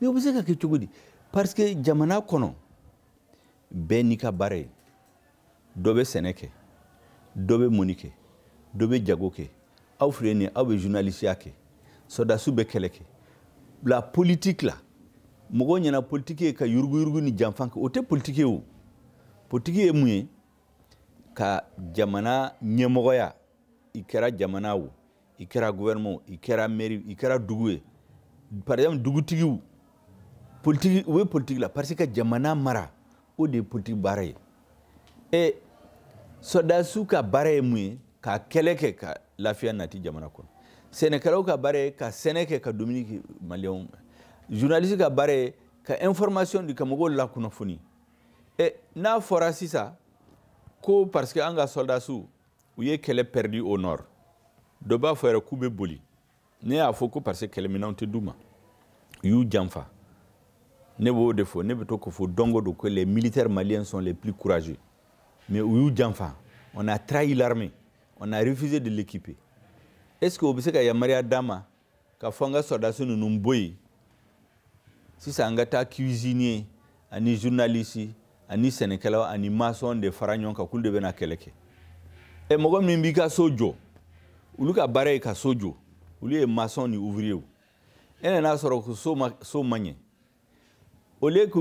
mais o bɛ se ka kɛ cogo di parce que jamana kɔnɔ bɛɛ n'i ka baara ye dɔ bɛ sɛnɛ kɛ dɔ bɛ mɔni kɛ dɔ bɛ jago kɛ aw filɛ nin ye aw bɛ journalisiya kɛ sɔrɔdasiw bɛ kɛlɛ kɛ la politique la mɔgɔw ɲɛna politiki ye ka yuruguyurugu ni janfa kɛ o tɛ politiki ye o politiki ye mun ye ka jamana ɲɛmɔgɔya i kɛra jamana o i kɛra gouvernement i kɛra mairie i kɛra dugu ye par exemple dugutigiw politiki u bɛ politiki la parce que jamana mara o de ye politiki baara ye et sɔrɔdasiw ka baara ye mun ye ka kɛlɛ kɛ ka lafiya nati jamana kɔnɔ sɛnɛkɛlaw ka baara ye ka sɛnɛ kɛ ka dumuni kɛ maliyɛnw journaliste ka baara ye ka information di ka mɔgɔw lakunnafoni e n'a fɔra sisan ko parce que an ka sɔrɔdasiw u ye kɛlɛ perdu au nord dɔ b'a fɔ yɛrɛ k'u bɛ boli ne y'a fɔ ko parce que kɛlɛminɛnw tɛ d'u ma u y'u janfa ne b'o de fɔ ne bɛ to k'o fɔ don go don ko les militaires maliens sont les plus courageux mais u y'u janfa on a trahi l'armée on a refusé de l'équiper est ce que o bɛ se ka yamaruya d'an ma k'a fɔ an ka sɔrɔdasi ninnu bɔ yen sisan an ka taa cuisinier ani journaliste ani sɛnɛkɛlaw ani maçon de fara ɲɔgɔn kan k'olu de bɛna kɛlɛ kɛ ɛ mɔgɔ min b'i ka so jɔ olu ka baara ye ka so jɔ olu ye maçon ni ouvrier e nan'a sɔrɔ ko so ma so ma ɲɛ au lieu que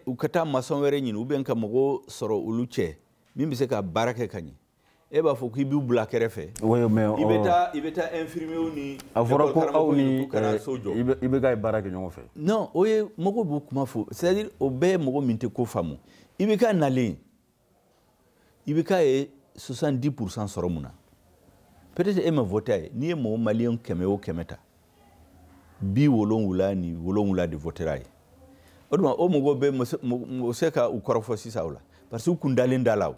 u ka taa maçon wɛrɛ ɲini ou bien ka mɔgɔ sɔrɔ olu cɛ min bɛ se ka baara kɛ ka ɲɛ e b'a fɔ k'i b'u bila kɛrɛfɛ i bɛ taa i bɛ taa infirmiers ni a fɔra ko aw ni IBK ye baara kɛ ɲɔgɔn fɛ non o ye mɔgɔ b'o kuma fɔ c'est à dire o bɛɛ ye mɔgɔ min tɛ ko faamu IBK nalen IBK ye 70 pourcent sɔrɔ mun na peut être e ma voté a ye n'i ye mɔgɔ maliyɛn kɛmɛ o kɛmɛ ta bi wolonwula ni wolonwula de votera a ye o tuma o mɔgɔw bɛ se ka u kɔrɔfɔ sisan o la parce que u kun dalen d'a la o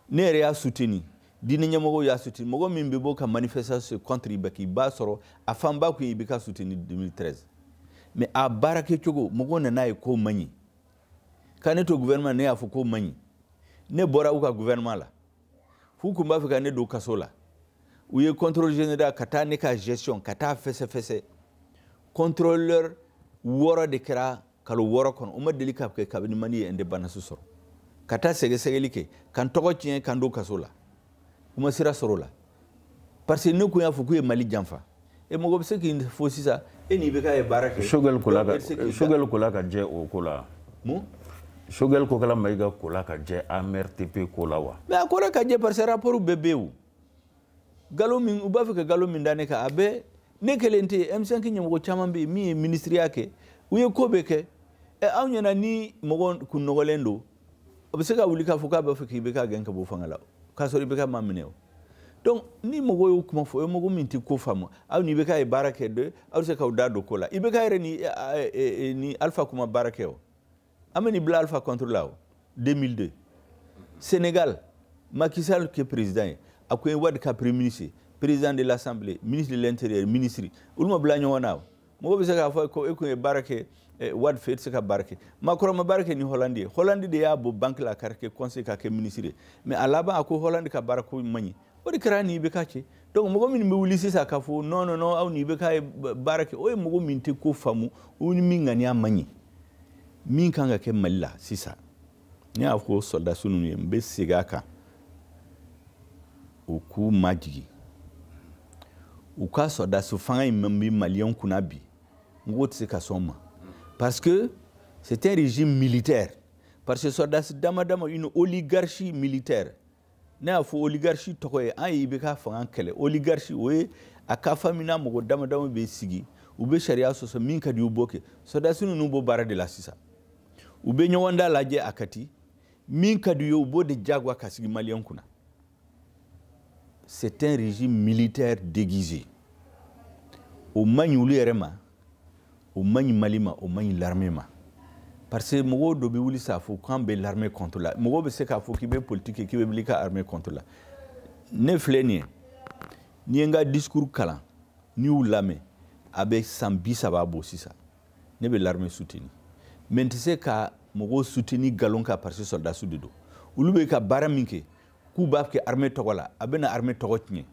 ne yɛrɛ y'a suteni diinɛ ɲɛmɔgɔw y'a suteni mɔgɔ min bɛ bɔ ka manifestation contre IBK i b'a sɔrɔ a fanba kun ye IBK suteni 2013 mais a baara kɛcogo mɔgɔw nan'a ye k'o man ɲi ka ne to gouvernement ne y'a fɔ k'o man ɲi ne bɔra u ka gouvernement la f'u kun b'a fɛ ka ne don kaso la u ye contrôle général ka taa ne ka gestion ka taa fɛsɛfɛsɛ contrôleur wɔɔrɔ de kɛra kalo wɔɔrɔ kɔnɔ o ma deli ka kɛ kabini mali ye indépendance sɔrɔ ka taa sɛgɛsɛgɛli kɛ ka n tɔgɔ tiɲɛ ka n don kaso la u ma sira sɔrɔ o la parce que ne kun y'a fɔ k'u ye mali janfa e mɔgɔ bɛ se k'a fɔ sisan e ni IBK ye baara kɛ Choguel kola ka Choguel kola ka jɛ o ko la mun Choguel Kokalla Maïga kola ka jɛ amrtp ko la wa mais a kola ka jɛ parce que rapport bɛɛ bɛ yen o galon min u b'a fɛ ka galon min da ne kan a bɛɛ ne kelen tɛ m5 ɲɛmɔgɔ caman bɛ yen min ye minisiriya kɛ u ye ko bɛɛ kɛ ɛ aw ɲɛna ni mɔgɔ kun nɔgɔlen don o bɛ se ka wuli k'a fɔ k'a b'a fɛ k'IBK gɛn ka bɔ fanga la k'a sɔrɔ IBK m'a minɛ o donc ni mɔgɔ y'o kuma fɔ o ye mɔgɔ min tɛ ko faamu aw ni IBK ye baara kɛ de aw bɛ se k'aw da don ko la IBK yɛrɛ ni ni alpha kun ma baara kɛ o a ma n'i bila alpha contre la o 2002 sénégal Macky Sall kɛ président ye a kun ye Wade ka premier ministre ye président de l'assemblée ministre de l'intérieur ministre olu ma bila ɲɔgɔn na o mɔgɔ bɛ se k'a fɔ ko e kun ye baara kɛ eh, Wade fɛ e tɛ se ka baara kɛ Macron ma baara kɛ ni Hollande ye Hollande de y'a bɔ banque la k'a kɛ conseil k'a kɛ ministre ye mais a laban a ko Hollande ka baara ko man ɲi o de kɛra an ni IBK cɛ donc mɔgɔ minnu bɛ wuli sisan k'a fɔ non non non aw ni IBK ye baara kɛ o ye mɔgɔ min tɛ ko faamu u ni min ŋaniya man ɲi min kan ka kɛ mali la sisan ne y'a fɔ sɔrɔdasi ninnu ye n bɛ segin a kan u k'u majigin u ka sɔrɔdasi fanga in min bɛ maliyɛnw kunna bi mɔgɔw tɛ se ka sɔn o ma parce que c'est un régime militaire parce que sɔrɔdasi dama dama une oligarchie militaire ne y'a fɔ oligarchie tɔgɔ ye an ye IBK fanga kɛlɛ oligarchie o ye a ka famille na mɔgɔ dama dama bɛ sigi u bɛ sariya sɔsɔ min ka di u b'o kɛ sɔdasi ninnu b'o baara de la sisan u bɛ ɲɔgɔn da lajɛ à Kati min ka di u ye u b'o de jagoya ka sigi maliyɛn kunna c'est un régime militaire déguisé o man ɲi olu yɛrɛ ma o man ɲi mali ma o man ɲi l'armée ma parce que mɔgɔ dɔ bɛ wuli sa k'a fɔ k'an bɛ l'armée contre la mɔgɔ bɛ se k'a fɔ k'i bɛ politiki kɛ k'i bɛ wuli ka armée contre la ne filɛ nin ye n'i ye n ka discours kalan n'i y'u lamɛn a bɛ san bi saba bɔ sisan ne bɛ l'armée soutenu mais n tɛ se ka mɔgɔw soutenu nkalon kan parce que sɔrɔdasiw de don olu bɛ ka baara min kɛ k'u b'a kɛ armée tɔgɔ la a bɛna armée tɔgɔ tiɲɛ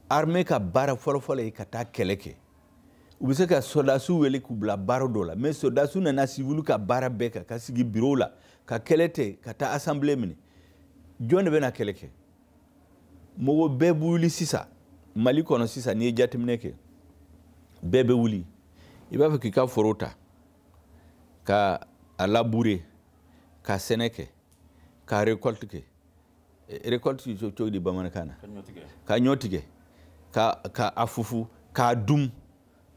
armée ka baara fɔlɔfɔlɔ ye ka taa kɛlɛ kɛ u bɛ se ka sɔrɔdasiw wele k'u bila baara dɔ la mais sɔrɔdasiw nana siwiliw ka baara bɛɛ kan ka sigi birow la ka kɛlɛ to ka taa assemblée minɛ jɔn de bɛna kɛlɛ kɛ mɔgɔ bɛɛ bɛ wuli sisan mali kɔnɔ sisan n'i ye jateminɛ kɛ bɛɛ bɛ wuli i b'a fɛ k'i ka foro ta ka a labure ka sɛnɛ kɛ ka récolte kɛ eh, récolte cogo di bamanankan na ka ɲɔ tigɛ ka ka a fufu k'a dum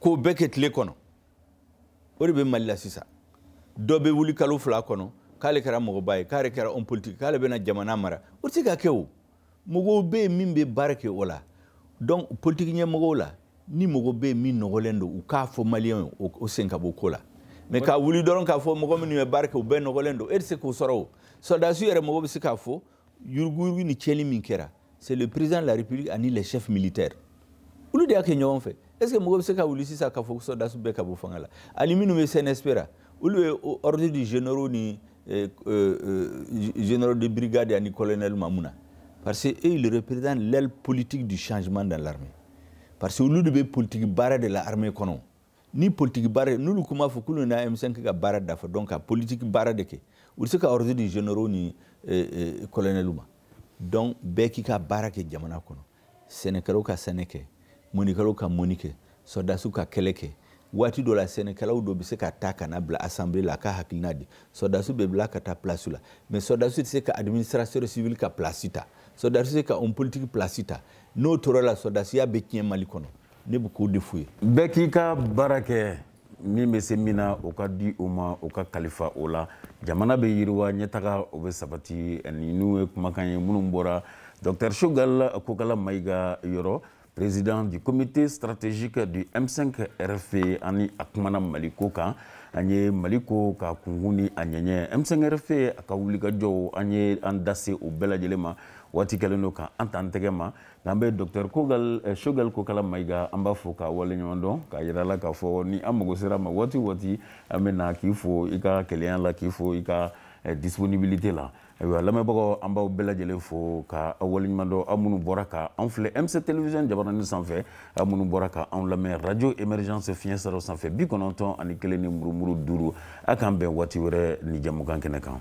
k'o bɛɛ kɛ tile kɔnɔ o de bɛ mali la sisan dɔ bɛ wuli kalo fila kɔnɔ k'ale kɛra mɔgɔba ye k'ale kɛra homme politique k'ale bɛna jamana mara o tɛ se ka kɛ o mɔgɔw bɛ yen min bɛ baara kɛ o la donc politiki ɲɛmɔgɔw la ni mɔgɔ bɛ yen min nɔgɔlen don u k'a fɔ maliyɛnw ye o sen ka bɔ ko la mais ka wuli dɔrɔn k'a fɔ mɔgɔ minnu ye baara kɛ u bɛɛ nɔgɔlen don e tɛ se k'o sɔrɔ o sɔrɔdasiw yɛrɛ mɔgɔ bɛ se k'a fɔ yuruguyurugu ni tiɲɛni min kɛra c'est le président de la république ani les chefs militaires olu de y'a kɛ ɲɔgɔn fɛ est ce que mɔgɔ bɛ se ka wuli sisan k'a fɔ ko sɔrɔdasiw bɛɛ ka bɔ fanga la ani minnu bɛ CNSP ra olu ye ordre di généraux ni euh, euh, euh, généraux de brigade ani colonelw ma mun na parce que eux ils représentent l'aile politique du changement dans l'armée parce que olu de bɛ politiki baara de la armée kɔnɔ ni politiki baara n'olu kuma fɔ k'olu bɛna M5 ka baara dafa donc ka politiki baara de kɛ u bɛ se ka ordre di généraux ni colonelw ma donc bɛɛ k'i ka baara kɛ jamana kɔnɔ sɛnɛkɛlaw ka sɛnɛ kɛ mɔnikɛlaw ka mɔni kɛ sɔrɔdasiw ka kɛlɛ kɛ waati dɔ la sɛnɛkɛlaw dɔ bɛ se ka ta ka na bila assemblée la k'a hakilina di sɔrɔdasiw bɛ bila ka taa pilasiw la mais sɔrɔdasiw tɛ se ka administrateur civil ka pilasi ta sɔrɔdasiw tɛ se ka homme politique pilasi ta n'o tora o la sɔrɔdasiya bɛ tiɲɛ mali kɔnɔ ne bɛ k'o de f'u ye bɛɛ k'i ka baara kɛ min bɛ se min na o ka di o ma o ka kalifa o la jamana bɛ yiriwa ɲɛtaga o bɛ sabati ani ninnu ye kumakan ye minnu bɔra docteur Choguel Kokalla Maïga yɔrɔ président du comité stratégique du M5 RFP ani a kumana Mali ko kan an ye Mali ko ka kunkun ni a ɲɛɲɛ M5 RFP a ka wulikajɔw an ye an da se o bɛɛ lajɛlen ma waati kɛlen don ka an ta an tɛgɛ ma n'an bɛ dɔktɛr kogal eh, choguel kokala maïga an b'a fo k'a waleɲuman dɔn k'a yira la k'a fɔ ni an mago sera ma waati o waati an bɛ na k'i fo i ka kelenya la k'i fo i ka eh, disponibilité la ayiwa lamɛnbagaw an b'aw bɛɛ lajɛlen fo ka aw waleɲuman dɔn aw minnu bɔra ka anw filɛ mc télévision jabaranin sanfɛ aw minnu bɔra ka anw lamɛn radio émergence fiɲɛ siraw sanfɛ bi kɔnɔntɔn ani kelen ni murumuru duuru a k'an bɛn waati wɛrɛ ni jamukan kɛnɛ kan